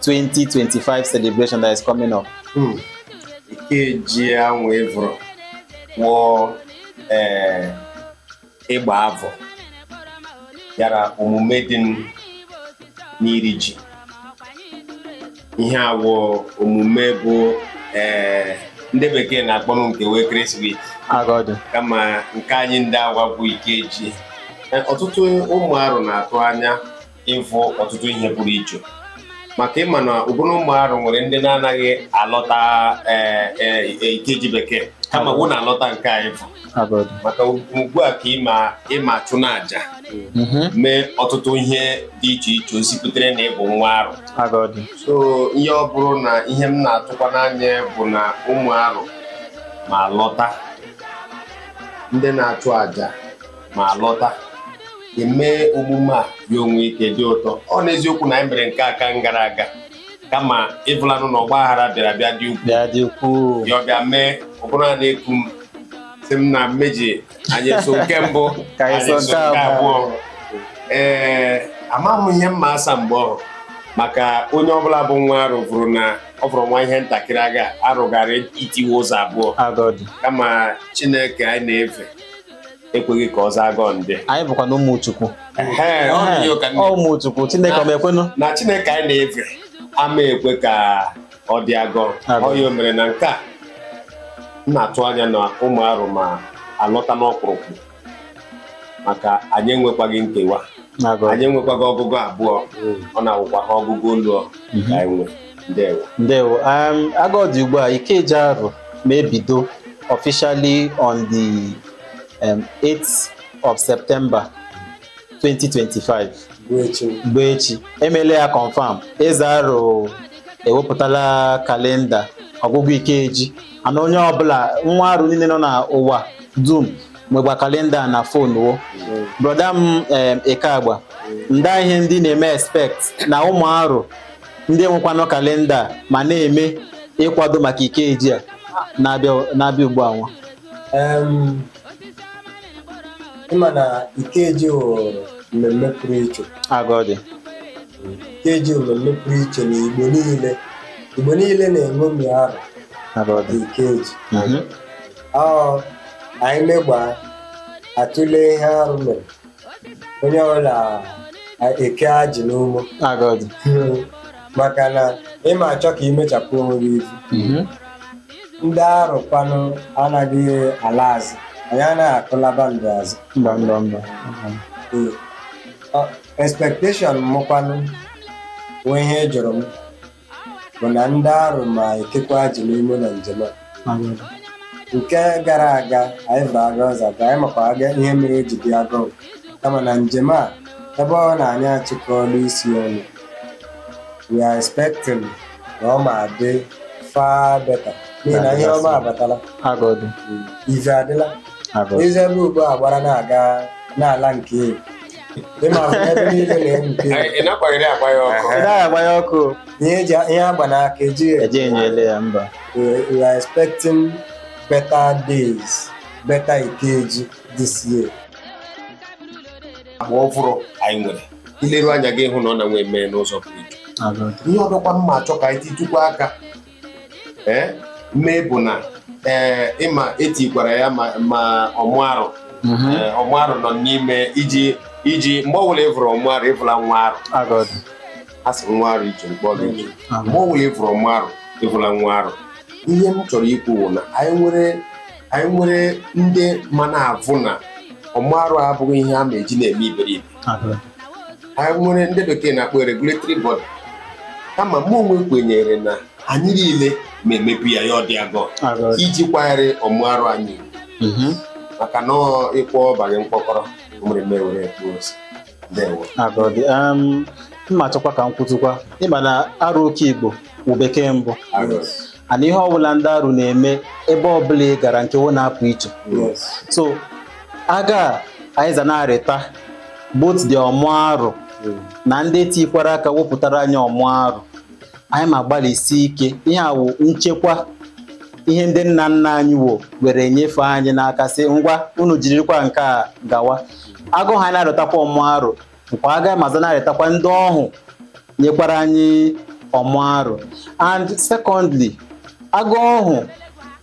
2025 celebration that is coming up. Hmm. Ikeji anwa ị vụrụ wụ eh, ịgba avọ yara omume dị n'iri ji ihe a wụ omume bụ eh, ndị bekee na-akpọ nke wo Christmas kama nke anyị ndị agwa bụ Ikeji ọtụtụ ụmụ arụ na-atụ anya ịvụ ọtụtụ ihe pụrụ iche maka ị ma na ụbụrụ ụmụ arụ nwere ndị na-anaghị alọta ee, ee, ee, ikeji bekee kama wo na-alọta nke a ị vụ Agọdị. maka ugbu a ka ị ma achụ n'aja Mhm. mee ọtụtụ ihe dị iche iche gosiputere na ị bụ nwa arụ Agọdị. so ya ọ bụrụ na ihe m na-atụkwa n'anya bụ na ụmụ arụ ma alọta ndị na-achụ aja ma alọta eme omume a ya o nwee ike dị ụtọ ọ n'eziokwu na anyị mere nke aka gara aga kama ị vụlanụ na ọgba aghara bịara bịa dị ukwuu ya ọ bịa mee ọ bụrụ a na-eku m sị m na mmeji anyị so nke mbụ Ka anyị so nke abụọ. ee amaghị m ihe m ma asa mgbe ọhụ maka onye ọbụla bụ nwa arụ vụrụ na ọ fọrọ nwa ihe ntakịrị aga arụ gara itiwe ụzọ abụọ agọdị kama chineke anyị na-eve ekweghị ka ọ za agọ ndị anyị bụkwa na ụmụ Chukwu ụmụ Chukwu Chineke ọ ma ekwenụ na Chineke anyị na-eve ama ekwe ka ọ dị agọ ọ ya mere na nke a m na-atụ anya na ụmụ arụ ma alọta n'ọkpụrụkpụ maka anyị enwekwaghị nkewa anyị enwekwaghị ọgụgụ abụọ mm. ọ na-awụkwa ha ọgụgụ olu ka mm-hmm. anyị nwee ndewo ndewo um, agọdị ugbu a ikeji arụ ma ebido officially on the um, 8th of september 2025 bụ echi bụ echi emele ya confam eze arụ ewepụtala kalenda ọgụgụ ikeji ana onye ọbụla nwa arụ niile nọ na ụwa dum nwegba kalenda na fon wo broda m em, Ekeagba nda ihe ndị ị na-eme expect na ụmụ arụ ndị nwekwanụ kalenda a ma na-eme ịkwado maka ikeji a na-abịa na-abịa ugbu a nwa Em, ịma na ikeji wụ mmemme pụrụ iche aga ọ dị ikeji wụ mmemme pụrụ iche na igbo niile igbo niile na-eṅomi arụ aga ọ dị ikeji Mhm. ọ anyị megbaa atụle ihe arụ mere onye ọbụla eke ajị n'ume aga ọ dị maka na ịma achọ ka imechapụ onwe gị ivu Mhm. ndị arụkwanụ anaghị ala azụ anyị anaghị akụlaba ndụ azụ mba mba mba Ee. Ọ- expectation mụkwanụ nwee ihe ị jụrụ m bụ na ndị arụ ma ekekwa ajị n'ume na njem a nke gara aga anyị vụ aga ọ za ga anyị makwa aga ihe mere o ji dị aga kama na njem a ebe ọ na anyị achịkọọla isi ọnụ we are expecting na ọ ma adị far better n'ihi na ihe ọma abatala aga ọ dị ive adịla aga ọ dị eze ebe ugbu a gbara na-aga n'ala nke elu ị ma hụ ebe niile na-enwuke Anyị ị nakwaghịrị agba ya ọkụ Ị naghị agba ya ọkụ ihe eji ihe agba n'aka ejighị eji enyo ele ya mba we we are expecting better days better ikeji this year agba ọvụrụ anyị nwere ileru anya gị hụ na ọ na nwee mee n'ụzọ pụrụ iche Aga. ihe ọdọkwa m ma achọ ka anyị titụkwa aka ee mee bụ na ee ịma etikwara ya ma ma ọmụ arụ Ee, ọmụ arụ nọ n'ime iji iji mgbe ọbụla ịvụrụ ọmụ arụ ịvụla nwa arụ Aga ọ dị. a sị nwa arụ iche mkpọla iche mgbe ọbụla ịvụrụ ọmụ arụ ịvụla nwa arụ ihe m chọrọ ikwu bụ na anyị nwere anyị nwere ndị ma na-avụ na ọmụ arụ abụghị ihe a ma eji na-eme iberibe anyị nwere ndị bekee na-akpọ regulatory body kama mụ onwe kwenyere na anyị niile ma emepe ya ya adị aga iji kwanyere ọmụ arụ anyị ugwu maka na ịkwọ banye mkpọkọrọ nwere mewere etu ozi m ma achọkwa ka m kwutụkwa ịma na arụ oke igbo wụ bekee mbụ ana ihe ọbụla ndị arụ na-eme ebe ọbụla ị gara nke wo na-apụ iche so aga anyị za na-arịta both the ọmụ arụ na ndị tikwara aka wepụtara anyị ọmụ arụ anyị ma gbalịsi ike ihe a wụ nchekwa ihe ndị nna nna anyị wo were nyefee anyị n'aka sị ngwa unu jirikwa nke a gawa aga anyị na-arịtakwa ọmụ arụ nkwa aga ma za na-arịtakwa ndị ọhụ nyekwara anyị ọmụ arụ and secondly aga ọhụ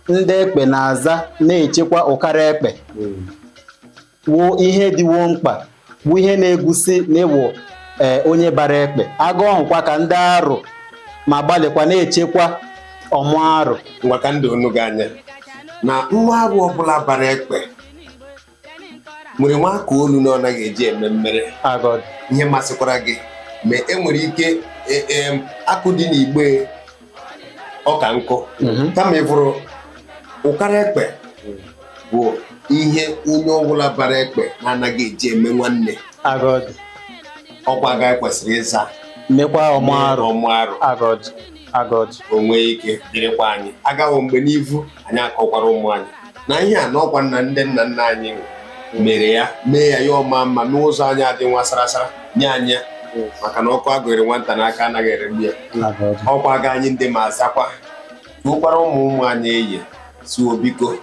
ndị ekpe na-aza na-echekwa ụkara ekpe wụ ihe dị wo mkpa bụ ihe na-egosi na ị wụ ee onye bara ekpe aga ọhụkwa ka ndị arụ ma gbalịkwa na-echekwa ọmụ arụ maka ndị unu gị anya na nwa arụ ọbụla bara ekpe nwere nwa aka olu na ọ naghị eji eme mmere ihe masịkwara gị ma e nwere ike e, e, akụ dị n'igbe ọka nkụ mhm. kama ịfụrụ ụkara ekpe bụ ihe onye ọbụla bara ekpe na-anaghị eji eme nwanne ọkwa aga e kwesịrị ịza mekwa ọmụ arụ agọji o nwee ike dịrịkwa anyị agawo mgbe n'ivu anyị akọkwara ụmụ anyị na ihe a n'ọkwa nna ndị nna nna anyị mere ya mee ya ya ama mma n'ụzọ anyị adị nwa sarasara nye anyị ya maka na ọkụ agụnyere nwata n'aka anaghị eregbu ya agọji ọkwa aga anyị ndị ma azakwa tuokwara ụmụ ụmụ anyị eye zuo biko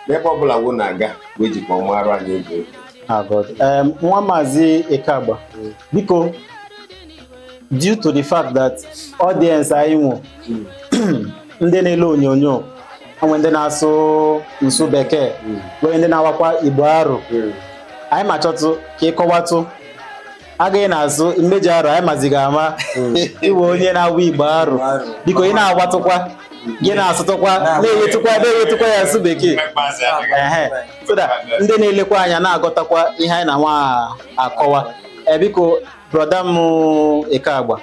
n'ebe ọbụla wo na-aga wee jikwa ọmụ arụ anyị oge agọji Em, nwa maazị Ikagba biko due to the fact that audience anyị wụ ndị na-ele onyonyo o nwee ndị na-asụ nsụ bekee nwere ndị na-awakwa igbo arụ anyị ma chọtụ ka ịkọwatụ agaghị na-azụ mmeji arụ anyị mazighị ama iwe onye na-awụ igbo arụ biko ị na-agwatụkwa gị na-asụtụkwa na-ewetụkwa na-ewetụkwa ya asụ bekee Ehe. so that ndị na-elekwa anya na-agọtakwa ihe anyị nọ nwa akọwa ee biko Brọda m Ikagba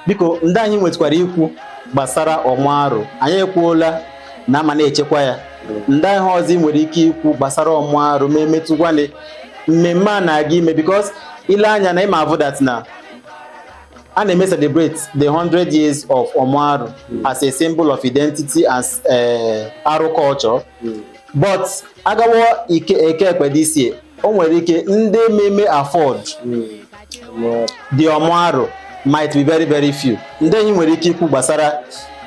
biko ndị ihe ị nwetụkwara ikwu gbasara ọmụ arụ anyị ekwuola na ama na-echekwa ya ndị ihe ọzọ ị nwere ike ikwu gbasara ọmụ arụ ma emetụkwanị mmemme a na-aga ime because i lee anya na ịma avụ that na a na-eme celebrate the 100 years of ọmụ arụ as a symbol of identity as eh, arụ culture but a gawa eke ekpe this year o nwere ike ndị meme afford the ọmụarụ might be very very few ndị ihe ị nwere ike ikwu gbasara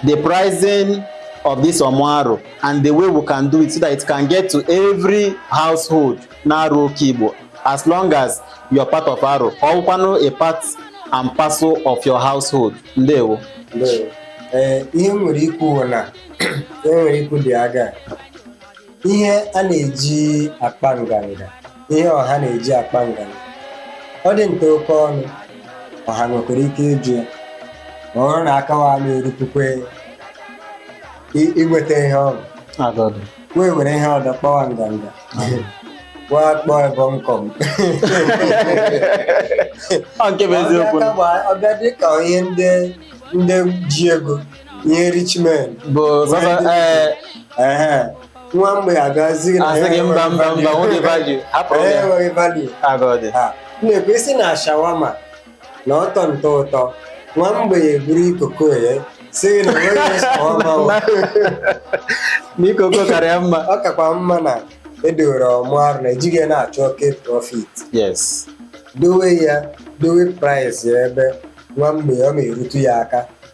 the pricing of this ọmụarụ and the way we can do it so that it can get to every household n'arụ okeigbo as long as you're part of arụ ka ọ bụkwanụ a part and parcel of your household ndewo Ndewo. Ee, ihe m nwere ikwu bụ na e nwere ikwu dị aga ihe a na-eji akpa nganga ihe ọha na-eji akpa nganga ọ dị nta oke ọnụ ọha nwekwara ike ịjụ ya ma ọ bụrụ na aka wa na-erupukwe i- inweta ihe ọṅụ Aga ọ dị. wee were ihe ọdọ kpawa nganga wa akpọọ ebe nkọm Ọ nke bụ eziokwu. ọ bịa ka gbaa- ọ bịa dị ka ihe ndị ndị ji ego ihe rich men bụ sasa ee ehe nwa mgbei agazi gị na asị gị mba mba mba nwoke value hapụrụ Ee, ya enweghị value aga ọ dị Ha, m na-ekwu isi na shawama na ọtọ ntọ ụtọ nwa mgbei eburu ikoko ya sị gị na o nweghị shawama o. na ikoko karịa mma ọ kakwa mma na e dowere ọmụ Arọ na ejighị ya na-achọ oke profit yes dowe ya dowe price ya ebe nwa mgbei ọ ma erutu ya aka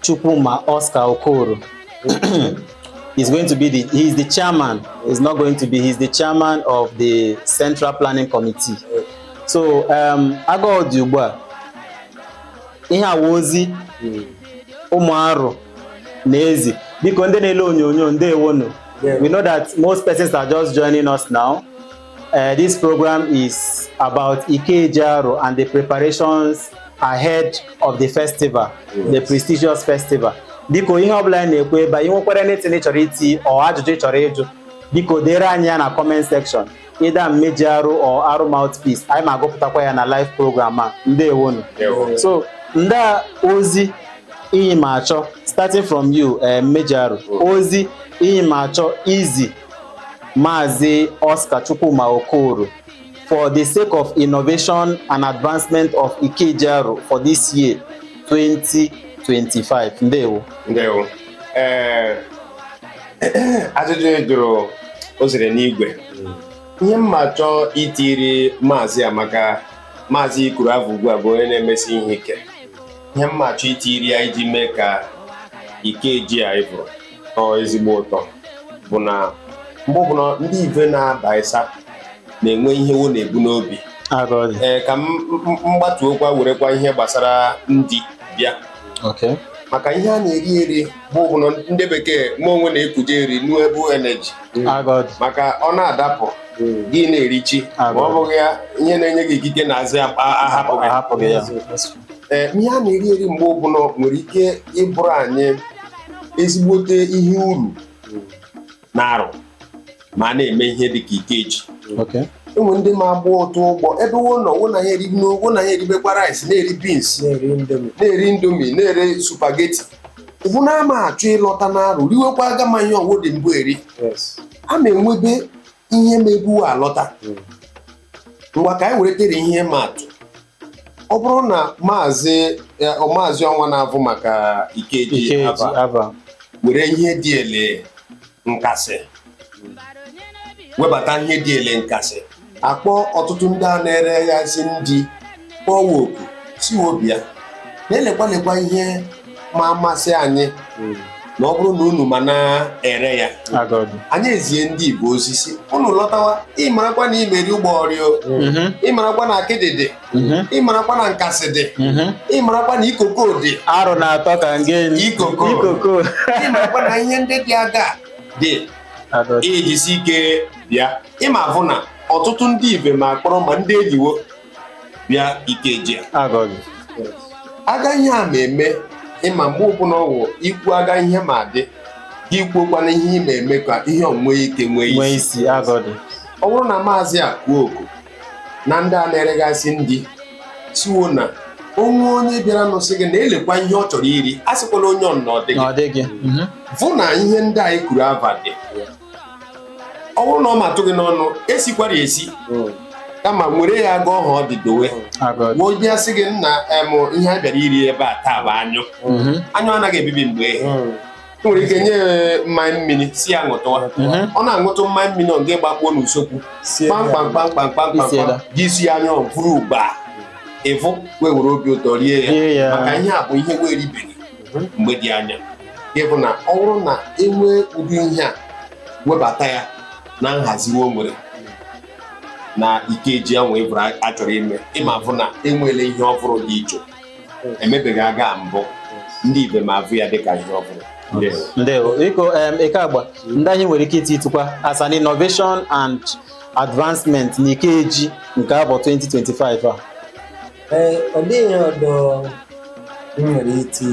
Chukwuma Oscar Okoro is going to be the he is the chairman. He's not going to be he's the chairman of the Central Planning Committee. So um, aga ọ dị ugbu a ihe awa ozi ụmụ Arọ na-ezi biko ndị na-ele onyonyo ndewonu we know that most persons are just joining us now Uh, this program is about Ikeji Arọ and the preparations ahead of the festival, yes. the prestigious festival. Biko ihe ọbụla anyị na-ekwu ebe a ị nwekwara anything ị chọrọ iti or ajụjụ ị chọrọ ịjụ biko dere anyị ya na comment section either Mmeji Arọ or Arọ Mouthpiece anyị ma agụpụtakwa ya na live program a ndewonu so ndị ozi iyi ma achọ starting from you eh, Mmeji Arọ ozi iyi ma achọ izi Maazị Oscar Chukwuma Okoro for the sake of innovation and advancement of Ikeji Arọ for this year 2025. Ndewo. Ndewo. Ee, ajụjụ ị jụrụ o ziri n'igwe ihe m ma achọ itiri maazị a maka maazị i kwuru avụ ugbu a bụ onye na-emesi ihe ike ihe m ma achọ itiri ya iji mee ka Ikeji a bụrụ nnọọ ezigbo ụtọ bụ na mgbe ọbụla ndị ive na-aba ịsa na-enwe ihe wo na-ebu n'obi Aga ọ dị. ee ka m m- m gbatuokwa werekwa ihe gbasara ndị bịa Okay. maka ihe a na-eri eri bụ ọbụla ndị bekee ma onwe na-ekuje renewable energy Aga ọ dị. maka ọ na-adapụ gị na-erichi ma ọ bụghị ya ihe na-enye gị ikike na-azị akpa ahapụ gị Ahapụghị ya. Ee, ihe a na-eri eri mgbe ọbụla nwere ike ịbụrụ anyị ezigbote ihe uru n'Arụ ma a na-eme ihe dị ka ikeji Okay. enwe ndị ma agba ụtụ ụgbọ ebe wo nọ wo na ha eri nnu wo na ha eribekwa rice na-eri beans na-eri indomie na-eri indomie na-eri spaghetti ụbụ na ama achọ ịlọta n'Arụ riwekwa aga ma ihe wo dị mbụ eri yes a ma enwebe ihe ma ebu wo alọta Mm. ngwa ka anyị were tere ihe maa atụ ọ bụrụ na maazị eh, ọ maazị ọnwa na-avụ maka ikeji Ikeji aba Aba were ihe dị ele nkasị webata ihe dị ele nkasị akpọ ọtụtụ ndị a na-ere ya esi ndi kpọwa oku sị wo bịa na-elekwa lekwa ihe ma amasị anyị na ọ bụrụ na unu ma na-ere ya Aga ọ dị. anyị ezie ndị ibe ozi sị unu lọtawa ịmarakwa na ị ma eri ụgbọghọrọ. Mhm, ịmarakwa na akịdị dị mhm, ịmarakwa na nkasị dị mhm. ịmarakwa na ikoko dị arụ na-atọ ka nge Ikoko. ikoko ịmarakwa na ihe ndị dị aga dị Aga ọ dị. i jisie ike bịa ị ma avụ na ọtụtụ ndị ibe ma akpọrọ ma ndị enyi wo bịa ikeji Aga ọ dị. aga ihe a ma eme ịma mgbe ọbụla ọwụ ikwu aga ihe ma dị gị kwuokwana ihe ị ma eme ka ihe ọ nwee ike nwee Nwee isi isi aga ọ dị. ọ bụrụ na maazị a kwuo oku na ndị a na-eregasị ndi sị wo na o nwe onye bịara nụsị gị na elekwa ihe ọ chọrọ iri asịkwala onye ọ na ọ dịghị Na ọ dịghị. Mhm. vụ na ihe ndị anyị kwuru ava dị ọ bụrụ na ọ matụ gị n'ọnụ esikwara esi mm. kama nwere ya aga ọha ọ dị dowe ọ bịa sị gị nna em ihe a bịara iri ebe a taa bụ anyụ mm-hmm. anyụ anaghị ebibi mgbe ehe mm. nwere ike nye mmanya mmiri sị ya ṅụtụwa mm-hmm. ọ na-aṅụtụ mmanya mmiri gị agbakpuo n'usokwu kpamkpamkpamkpamkpamkpam gị esie anyụ ọ bụrụ ugba ị vụ wo ewere obi ụtọ rie ya maka ihe a bụ ihe wo eribeghị mgbe dị anya ịbụ na ọ bụrụ na enwee ụdị ihe a webata ya na nhazi wo nwere na ikeji ahụ ịbụrụ a chọrọ ime ị ma avụ na enweela ihe ọhụrụ dị iche emebeghị aga mbụ ndị ibe ma avụ ya dịka ihe ọhụrụ ndewo biko em, eke agba ndị anyị nwere ike ititụkwa as an innovation and advancement n'ikeji nke avọ 2025 a ee ọ dịghị ihe ọdọ m nwere iti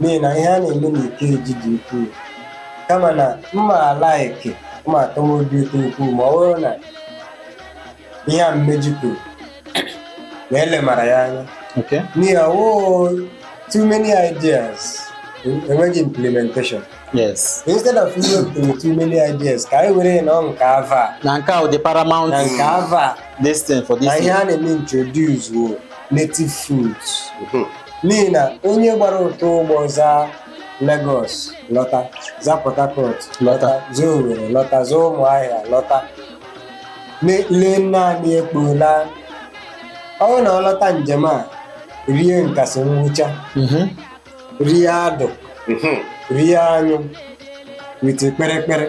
n'ihi na ihe a na-eme n'ikeji dị ukwuu kama na m ma alaiki ọ ma atọ m obi ụtọ ukwuu ma ọ bụrụ na ihe a mmeji kwuru na elemara ya anya Okay. n'ihi ọwụụ too many ideas enweghị implementation Yes. Instead of iwepụtara too many ideas ka anyị were na nke avọ a na nke ahụ dị paramount na nke avọ a this thing for this na ihe a na-eme introduce wo native foods mhm. n'ihi na onye gbara ụtọ ụgbọ za Lagos lọta za Port Harcourt lọta za Owerri lọta za Ụmụahịa lọta lee naanị ekpo laa ọ na ọ lọta njem a rie nkasị ngwụcha mhm. rie adụ mhm. rie anyụ with kperekpere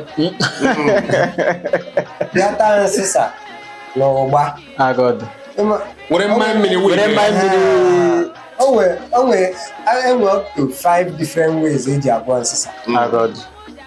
bịa taa nsịsa na ụgba were mmanya mmiri were mmanya mmiri o nwe o nwe enwe up to five different ways eji agwọ nsịsa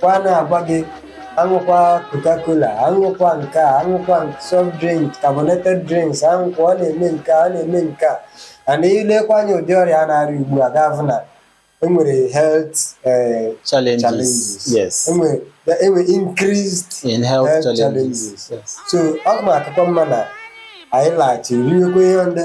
kwa na-agwa gị aṅụkwa coca-cola aṅụkwa nke a aṅụkwa soft drink carbonated drinks aṅụkwa ọ na-eme nke a ọ na-eme nke a and i lekwa anya ụdị ọrịa a na-arịa ugbu a ga-afụ na enwere health eh, challenges challenges yes enwere enwere increased in health Health challenges challenges. yes so ọ ma akụkọ mma na anyị laghachi riwekwa ihe ndị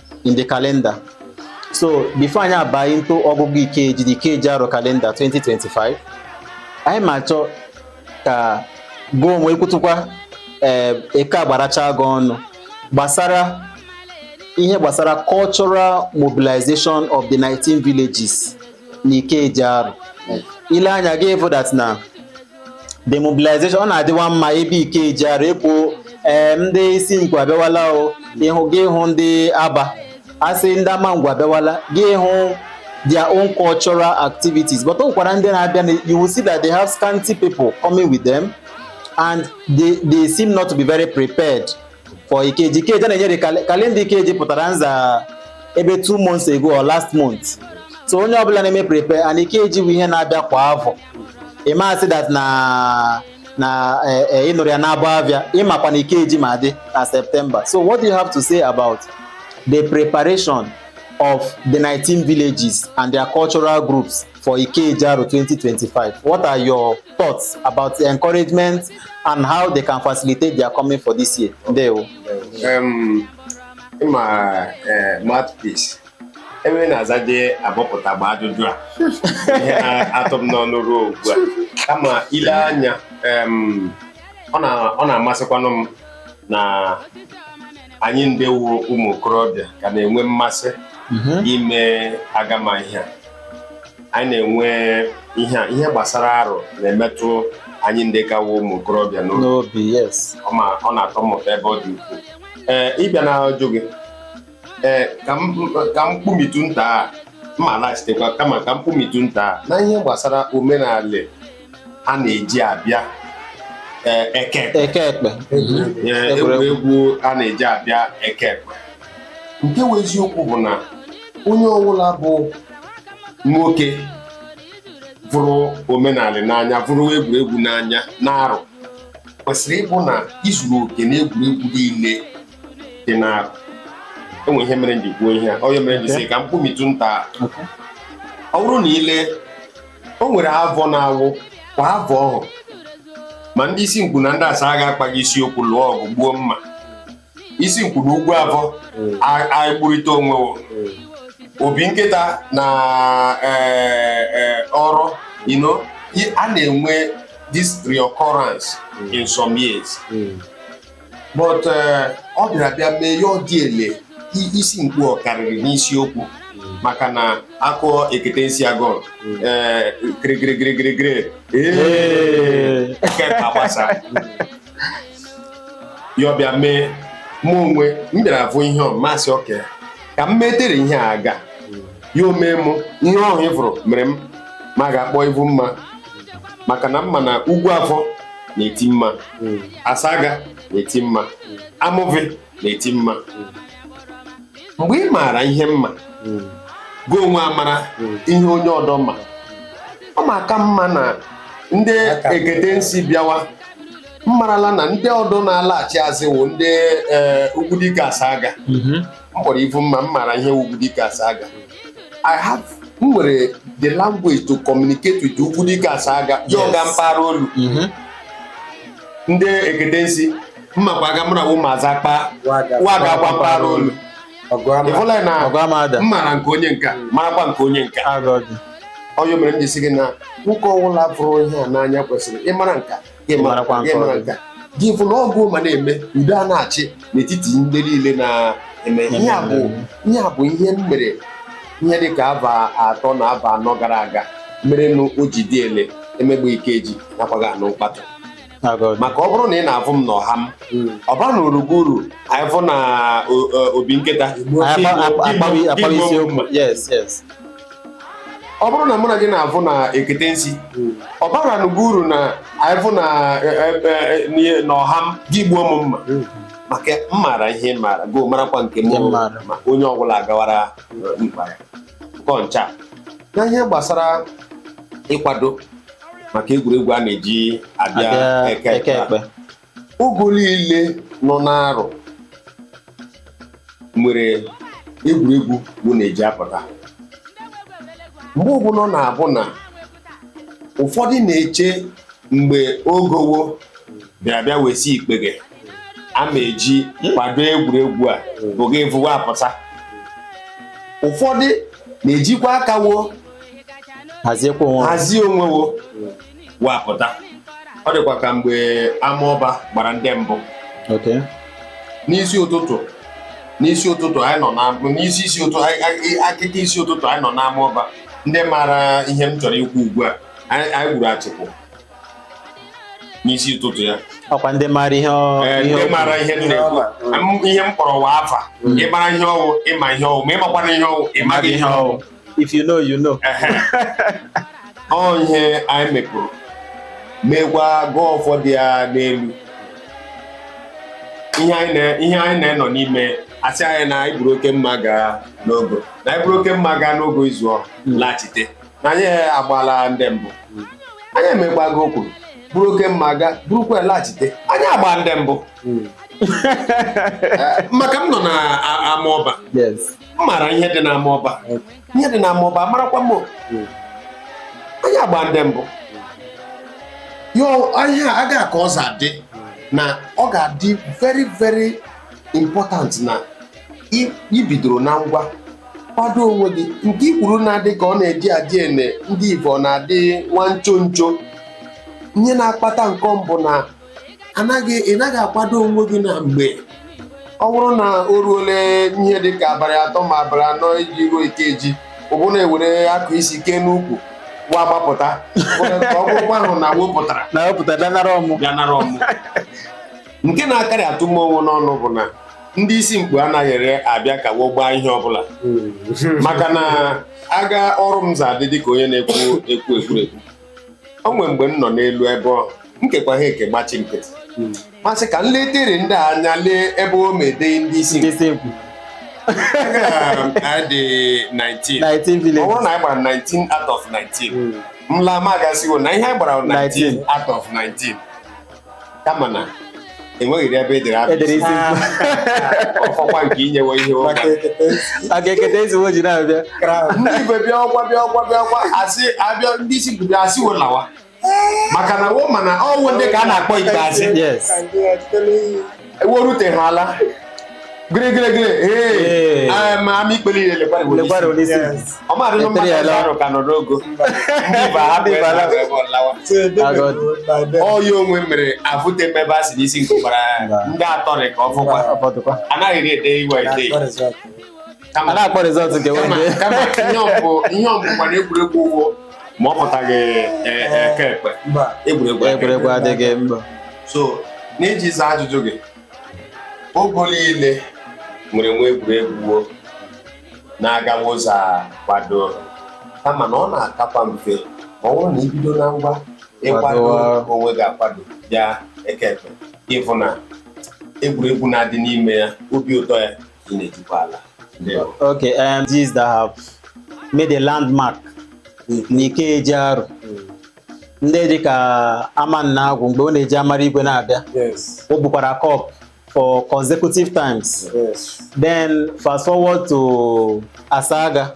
in the calendar so before anyị abaa into ọgụgụ ikeji the Ikeji Arọ calendar 2025 anyị ma achọ ka gụ onwe ikwutukwa ee eke agbaracha gị ọnụ gbasara ihe gbasara cultural mobilization of the 19 villages na Ikeji Arọ i le anya gị ịfụ that na the mobilization ọ na-adịwa mma ebe Ikeji Arọ e kwuo ee ndị Isinkpu abịawala o ịhụ gị ịhụ ndị aba asị ndị Amangwu abịawala gị ịhụ their own cultural activities but o nwekwara ndị na-abịa na- you will see that they have scanty people coming with them and they, they seem not to be very prepared for Ikeji. Ikeji a na-enyere cal- calendar Ikeji pụtara nza ebe two months ago or last month. So onye ọbụla na-eme prepare and Ikeji bụ ihe na-abịa kwa afọ. Ị ma asị that na na eh, eh, ị nụrụ ya n'abụ avịa ịmakwa na Ikeji ma dị na September. So what do you have to say about the preparation of the 19 villages and their cultural groups for Ikeji Arọ 2025. What are your thoughts about the encouragement and how they can facilitate their coming for this year? Ndewo. Um, ma uh, mouthpiece ebe na-azaje abọpụta gba ajụjụ a ihe a tọ m n'ọnụ ruo ugbu a kama i le anya um, ọ na-amasịkwanụ m na anyị nde wụ ụmụ okorobịa ka na-enwe mmasị mhm. ime agama ihe a anyị na-enwe ihe a ihe gbasara Arọ na-emetụ anyị ndị ka wụ ụmụ okorobịa n'obi ọ na-atọ m ụtọ ebe ọ dị ukwuu ee ịbịa na-ajụ gị ee ka m kpumitụ nta a m ma-alaghachitekwa kama ka m kpumitụ nta a na ihe gbasara omenala a na-eji abịa eh, eke ekpe. eke ekpe Eh, Egwuregwu. egwuregwu a na-eji abịa eke ekpe nke wụ eziokwu bụ na onye ọbụla bụ nwoke vụrụ omenala n'anya vụrụ egwuregwu n'anya na Arọ kwesịrị ịbụ na i zuru oke na egwuregwu niile dị na Arọ enwe ihe mere nji kwuo ihe a ọ ya mere nji si ka m kpumitụ nta ọ bụrụ na i lee o nwere avọ na-awụkwa avọ ọhụ ma ndị Isinkpu na ndị Asaga akpaghị isiokwu lụọ ọgụ gbuo mma Isinkpu na Ugwuavọ a- agbụrịta onwe wo. Obinkita na eh, eh, Ọrọ you know, i- a na-enwe this reoccurrence in some years but eh, ọ bịara bịa mee ya ọ dị ele i- Isinkpu ọ karịrị n'isiokwu maka na a kụọ ekete nsi agụ kirikirikirikirikiri eke agbasa ya ọ bịa mee mụ onwe m bịara afụ ihe ọhụ m asị okay ka m metere ihe a aga ya omee m ihe ọhụ m fụrụ mere m ma ga-akpọ ivu mma maka na m ma na Ugwuavọ na-eti mma Asaga na-eti mma Amuvi na-eti mma mgbe ị maara ihe mma gị onwe amara ihe onye ọdọ ma ọ maka m ma na ndị ekete nsi bịawa m marala na ndị ọdọ na-alaghachi azị wụ ndị ee, ugwu dike Asaga m kpọrọ ivu mma m maara ihe ugwu dike Asaga I have m nwere the language to communicate with ugwu dike Asaga ya ọ ga Yes. mpaghara olu Mhm. ndị ekete nsi m makwa aga mụra wụ maazị akpa Waga. waga agwa mpaghara olu Ọgụ ama. ịfụla na Ọgụ ama ada. m maara nke onye nka marakwa nke onye nka Agọdị. ọ ya mere m ji si gị na nwoke ọwụla fụrụ ihe a n'anya kwesịrị ịmara nka gị marakwa nke ọzọ. nke a. gị fụ na ọgụ ma na-eme udo a na-achị n'etiti ndị niile na-eme ihe a bụ ihe a bụ ihe m mere ihe dị ka avọ atọ na avọ anọ gara aga merenụ o ji dị ele emegbu Ikeji anakwaghị anụ mkpatụ maka ọ bụrụ na ị na-afụ m n'ọha m ọ ba na orugo uru anyị fụ na o- o- Obinkita Akpa- akpa- akpabi- akpabi isiokwu. Yes, yes. ọ bụrụ na mụ na gị na-avụ na ekete nsi ọ bara n'ugwu uru na anyị vụ na e- e- e- n'ihe- na ọha m gị gbuo m mma maka m maara ihe ị maara gị marakwa nke m Nke m maara. ma onye ọbụla agawara mkpa ya Nke ncha na ihe gbasara ịkwado maka egwuregwu a na-eji abịa Abịa eke eke ekpe ekpe. Ogo niile nọ n'Arọ nwere egwuregwu wo na-eji apụta mgbe ọbụla ọ na-abụ na ụfọdụ na-eche mgbe ogo wo bịara bịa wesi ikpeghe a ma eji kwado egwuregwu a bụ gị vụwa apụta ụfọdụ na-ejikwa aka wo haziekwa onwe ha. hazie onwe wo wee pụta ọ dịkwa ka mgbe Amaọba gbara ndị mbụ Okay. n'isi ụtụtụ n'isi ụtụtụ anyị nọ na n'isi isi ụtụtụ anyị- anyị- akịka isi ụtụtụ anyị nọ n'Amaọba ndị maara ihe m chọrọ ikwu ugbu a anyị anyị gburu achịkụ n'isi ụtụtụ ya Ọkwa ndị maara ihe ọ- Ee, ihe ndị ọ- maara ihe m na-ekwu M- ihe m kpọrọ wa afa ị mara ihe ọ wụ ị ma ihe ọ wụ ma ị makwana ihe ọ wụ ị maghị ihe ọ wụ if you know you know ọ ihe anyị mepụrụ meekwa gụọ ụfọdụ ya n'elu ihe anyị na-enọ n'ime a sị anyị na anyị buru oke mma gaa n'ogo na anyị buru oke mma gaa n'ogo izu ọ laghachite na anyị agbaala ndị mbụ anyị emegbago okwu buru oke mma gaa burukwa laghachite anyị agba ndị mbụ hmm. maka m nọ na Amaọba m maara ihe dị n'Amaọba ihe dị n'Amaọba amarakwa m anyị agba ndị mbụ yo ihe a aga ahụ ka ọ za adị na ọ ga-adị very very important na i- ibidoro na ngwa kwado onwe gị nke i kwuru na-adị ka ọ na-eji adị ene ndị Igbo na-adị nwa ncho ncho ihe na-akpata nke m bụ na anaghị ị naghị akwado onwe gị na mgbe ọ bụrụ na o ruole ihe dị ka abalị atọ ma abalị anọ iji ruo Ikeji ụbụ na-ewere akụ isi kee n'ukwu wa gbapụta ka ọ bụrụkwa ahụ na wepụtara na wepụta bịa nara ọmụ bịa nara ọmụ nke na-akarị atụ m ọnwụ n'ọnụ bụ na ndị Isimkpu anaghị ere abịa ka wo gbaa ihe ọbụla maka na aga ọrụ m za adị dịka onye na-ekwu ekwu ekwurekwu o nwere mgbe m nọ n'elu ebe ọ m kekwa ha eke gbachi nkịtị ma sị ka m letere ndị a anya lee ebe o mede ndị Isimkpu Isimkpu. adị 19 19 ọ bụrụ villages. na anyị gbara 19 out of 19 Mm. m laa ma aga sị wo na ihe anyị gbara 19 19. out of 19 kama na enweghịrị ebe edere abụ edere isi ọkwa nke inyewe ihe ụra maka ekete isi maka ekete ezigbo ji na-abịa kraụn ndị igwe bịa ọkwa bịa ọkwa bịa ọkwa asị abịa ndị Isinkpu a sị wo lawa maka na wo mana ọwụ ndị ka a na-akpọ ikpeazụ yes ka ndị ọchịchị n'iyi eweruteghị ala gịrịgịrịgịrị ee ama ikpere ihe lekwara ọmadị nọ mmadụ ọzọ arụ ka nọ n'ogo ọya onwe mere avụte mmebe a si n'isi nke gbara ndị atọrị ka ọ fụkwa anaghị ede iwe ede a na-akpọ rizọt nke wende kama ihe ọbụ ihe ọbụ gbara egwuregwu ụgwọ ma ọ pụtaghị e- e- eke ekpe mba egwuregwu eke ekpe. egwuregwu adịghị mba so n'iji zaa ajụjụ gị ogo niile nwere nwee egwuregwu wo na-agawa ụzọ akwado kama na ọ na-akakwa mfe ma ọ bụrụ na ibido na ngwa ịkwado Kwadowa. onwe gị akwado bịa eke ekpe ịfụ na egwuregwu na-adị n'ime ya obi ụtọ ya ị na-etukwa ala okay um, these that have made a landmark n'Ikeji Arọ ndị dị ka Amannagwu mgbe ọ na-eji amara igwe na-abịa yes o bukwara cup four consecutive times yes then fast forward to Asaga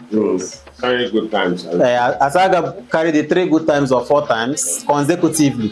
Very good times. Uh, Asaga carried it three good times or four times consecutively.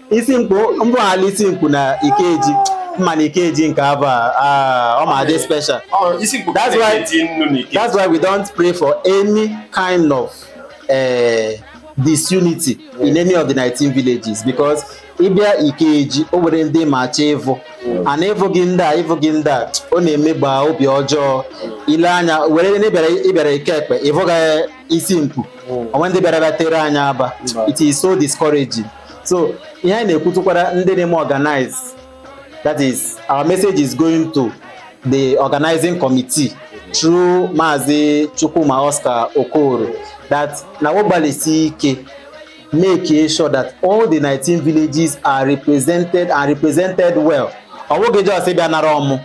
Isinkpu m vụghala Isinkpu na Ikeji mana Ikeji nke avọ a ah, ọ ma-adị special that's why that's why we don't pray for any kind of uh, disunity in any of the 19 villages because ịbịa Ikeji o nwere ndị ma-achọ ịvụ a na ịvụghị ndị a ịvụghị ndị a ọ na-emegba obi ọjọọ ile anya were ndị ịbịara eke ekpe ịvụghị Isinkpu o nwe ndị bịara bịa tere anya aba it is so discouraging so ihe anyị na-ekwutụkwara ndị na-eme organize that is our message is going to the organizing committee through Maazị Chukwuma Oscar Okoro that na wo gbalịsi ike make sure that all the 19 villages are represented and represented well ọ bụghị just ịbịa nara ọmụ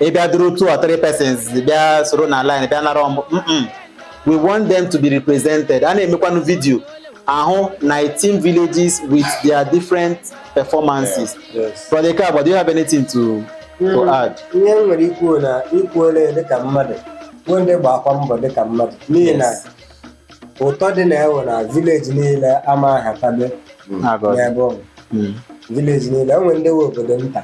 ị bịa duru two or three persons bịa soro na line bịa nara ọmụ mm we want them to be represented a na-emekwanụ vidio ahụ 19 villages with their different performances Yes. brother Ikabod, do you have anything to to add ihe m nwere ikwu na i kwuola ya dịka mmadụ bụ ndị gbakwa mbọ dịka mmadụ n'ihi na Yes. ụtọ dị na ewe na vileji niile ama ahatabe Agọzi. n'ebe ọ bụ Mm. vileji niile enwe ndị nwe obodo nta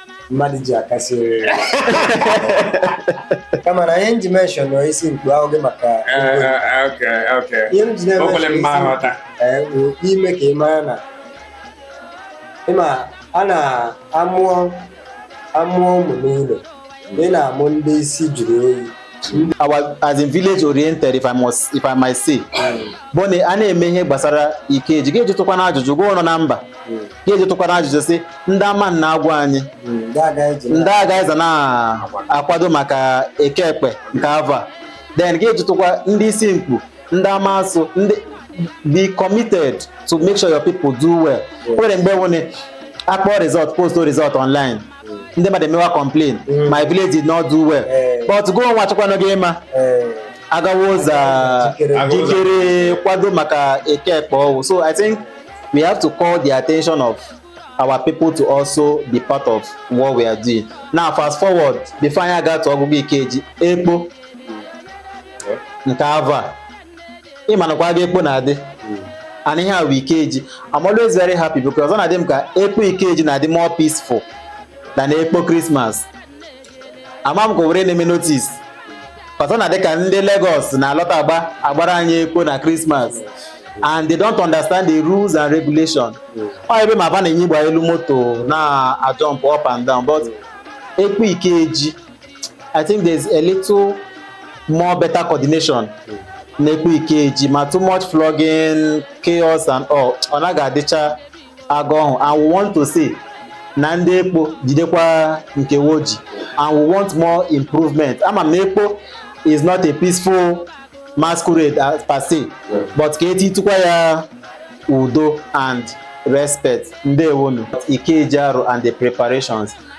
mmadụ ji akasị oriri kama na ihe m ji mention Isimkpu awụghị maka ihe m ji na-emention ime ka ị mara na ịma a na-amụọ amụọ ụmụ n'ụlọ ị na-amụ ndị isi juru oyi our as in village oriented if I must if I might say bụ na a na-eme ihe gbasara Ikeji gị ejụtụkwana ajụjụ gwa ụlọ na mba gị ejụtụkwana ajụjụ si ndị Amannagwu anyị ndị aga eji ndị agha eze na-akwado maka eke ekpe nke ava then gị ejụtụkwa ndị Isimkpu ndị Amasu ndị be committed to make sure your people do well o nwere mgbe nwere akpọ result post result online ndị mmadụ emewa complain my village did not do well but gụọ nwa chịkwanụ gị ịma agawa ụzọ jikere kwado maka eke ekpe ọwụ so i think we have to call the attention of our people to also be part of what we are doing. Now, fast forward, before anyị aga to Ọgụgụ Ikeji, ekpo nke ava, ịmanụkwa aga ekpo na-adị and ihe a bụ ikeji I'm always very happy because ọ na-adị m ka ekpo ikeji na-adị more peaceful than ekpo Christmas ama m ka were na-eme notice ọzọ na dịka ndị Lagos na-alọta agba agbara anyị ekpo na Christmas and they don't understand the rules and regulation ọ ebe ma ba na-enyigba elu moto na-ajump up and down but ekpo ikeji I think there's a little more better coordination n'ekpo Ikeji ma too much flogging, chaos and all ọ naghị adịcha aga ọhụ and we want to see na ndị ekpo jidekwa nke woji and we want more improvement ama m na ekpo is not a peaceful masquerade as per se but ka etitụkwa ya udo and respect ndewonu Ikeji Arọ and the preparations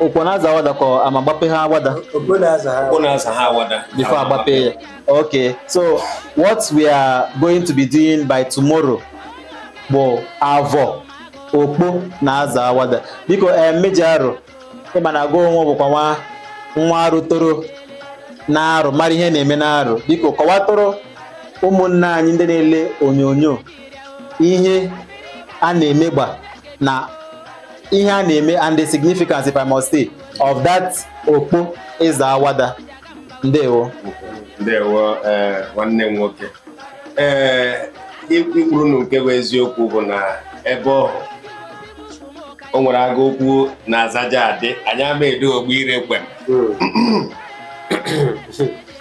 Okpo na-aza awada ka ọ ama gbape ha awada Okpo na-aza ha. Okpo na-aza ha awada. before agbape ya okay so what we are going to be doing by tomorrow bụ avọ okpo na aza awada biko ee mmeji Arọ ịma na gị onwe bụkwa nwa nwa Arọ toro na Arọ mara ihe na-eme na Arọ biko kọwatụrụ ụmụnna anyị ndị na-ele onyonyo ihe a na-emegba na ihe a na-eme and the significance if I must say of that okpo ịza awada ndewo ndewo ee nwanne m nwoke ee ikwuru na nke bụ eziokwu bụ na ebe ọhụ o nwere aga okwu na azaja adị anyị ama edo ogbu ire kwem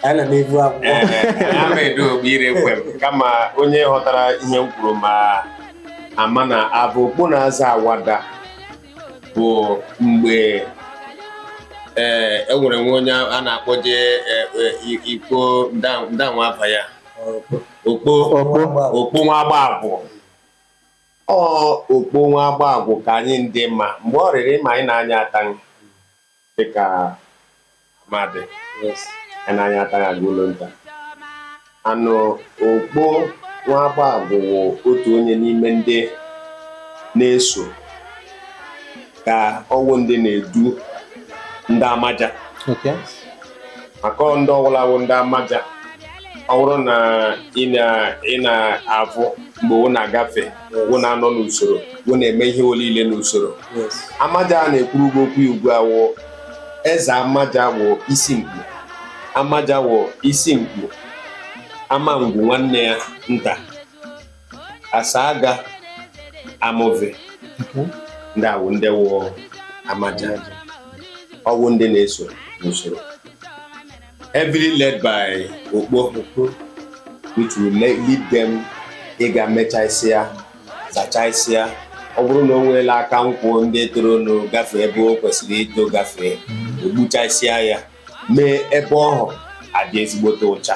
ana m ebu akwụkwọ Ee, anyị ama edo ogbu ire ekwe m kama onye ghọtara ihe m kwuru ma ama na abụ okpo na-aza awada bụ mgbe ee e nwere nwa onye a na-akpọje e- e- i- ikpo nda- ndanwa afa ya okpo okpo nwa agba agwụ ọ okpo nwa agba agwụ ka anyị ndị ma mgbe ọ rịrị ma anyị na-anya ataghị dịka amadị anyị na-anya ataghị aga ụlọ nta anụ okpo nwa agba agwụ wụ otu onye n'ime ndị na-eso ka ọwụ ndị na-edu ndị amaja Okay. maka ọ ndị ọwụla wụ ndị amaja ọ bụrụ na ị na- ị na-avụ mgbe wo na-agafe wo na-anọ n'usoro wo na-eme ihe olile n'usoro amaja a na-ekwuru gị okwu ugbu a wụ eze amaja wụ Isimkpu amaja wụ Isimkpu Amangwu nwanne ya nta Asaga Amuvi ndị a wụ ndị wụ amaja ọwụ ndị na-eso n'usoro heavily led by Okpo, which will le- lead them ịga mechaisịa zachaisịa ọ bụrụ na o nweela aka nkwụ ndị toronụ gafee ebe o kwesịrị ito gafee egbuchaisịa ya mee ebe ọhụ adị ezigbote ụcha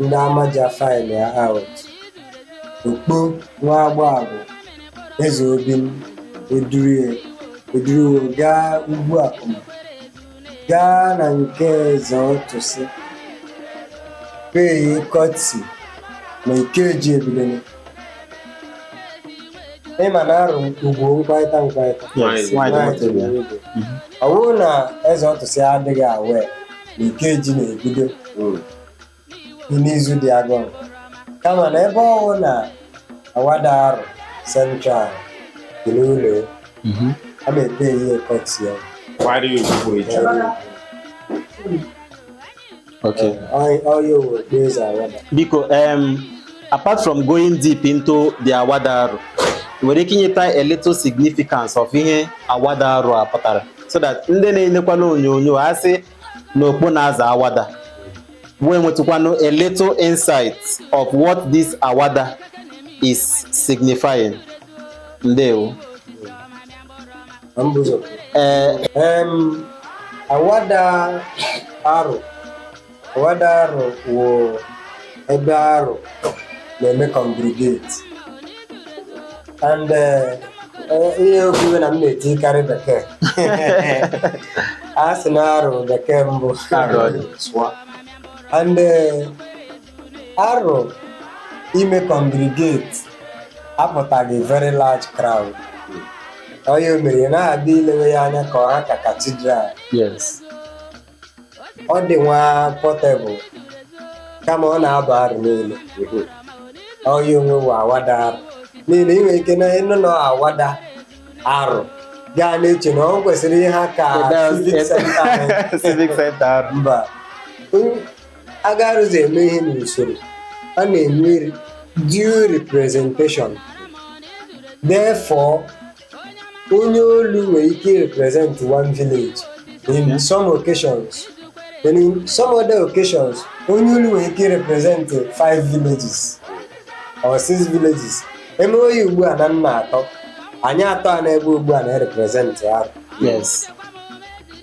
ndị amaja faịlụa out okpo nwa agba agwụ eze obi m edurie eduru wo gaa Ugwuakuma gaa na nke eze ọtụsị pay courtesy na ikeji ebidone ịma na Aro ugwu mkparịta mkparịta Yes, Nwanyị nwaanyị dị dị otu ya. obi. ọ bụrụ na eze ọtụsị adịghị aware na Ikeji na-ebido Mm. bụ n'izu dị agụrụ kama na ebe ọwụ na awada Aro central dị n'ụlọ ya, Mhm. a na-epe ihe courtesy ya Why do you people each other? Okay. Ọ- ọ ya owe okpu eze awada Biko, um, apart from going deep into the awada Aro, nwere ike inyeta a little significance of ihe awada Aro a pụtara. so that ndị na-enekwana onyonyo a sị na okpo na-aza awada wee nwetụkwanụ a little insight of what this awada is signifying ndewo na mbụ ụzọ ee Em, awada Aro Wada Aro wụ ebe Aro na-eme congregate and eh, eh, ihe okwuwe na m na-etikarị bekee a sị na Aro bekee mbụ and eh, Aro ime congregate apụtaghị very large crowd onye o mere na-abịa ilewe ya anya ka ọ ha ka cathedral yes ọ dị nwa portable kama ọ na-aba Aro niile ọ ya onwe bụ Awada Aro n'ihi na ị nwere ike na ịnụ na Awada Aro gaa na-eche na ọ kwesịrị ịha ka civic center anyị. civic center Aro mba onye agarụzi eme ihe n'usoro a na-enwe due representation therefore onye olu nwere ike represent one village in Yeah. some occasions then in some other occasions onye olu nwere ike represent five villages or six villages eme oyi ugbu a na nna atọ anyị atọ a nọ ebe ugbu a na-represent Aro Yes.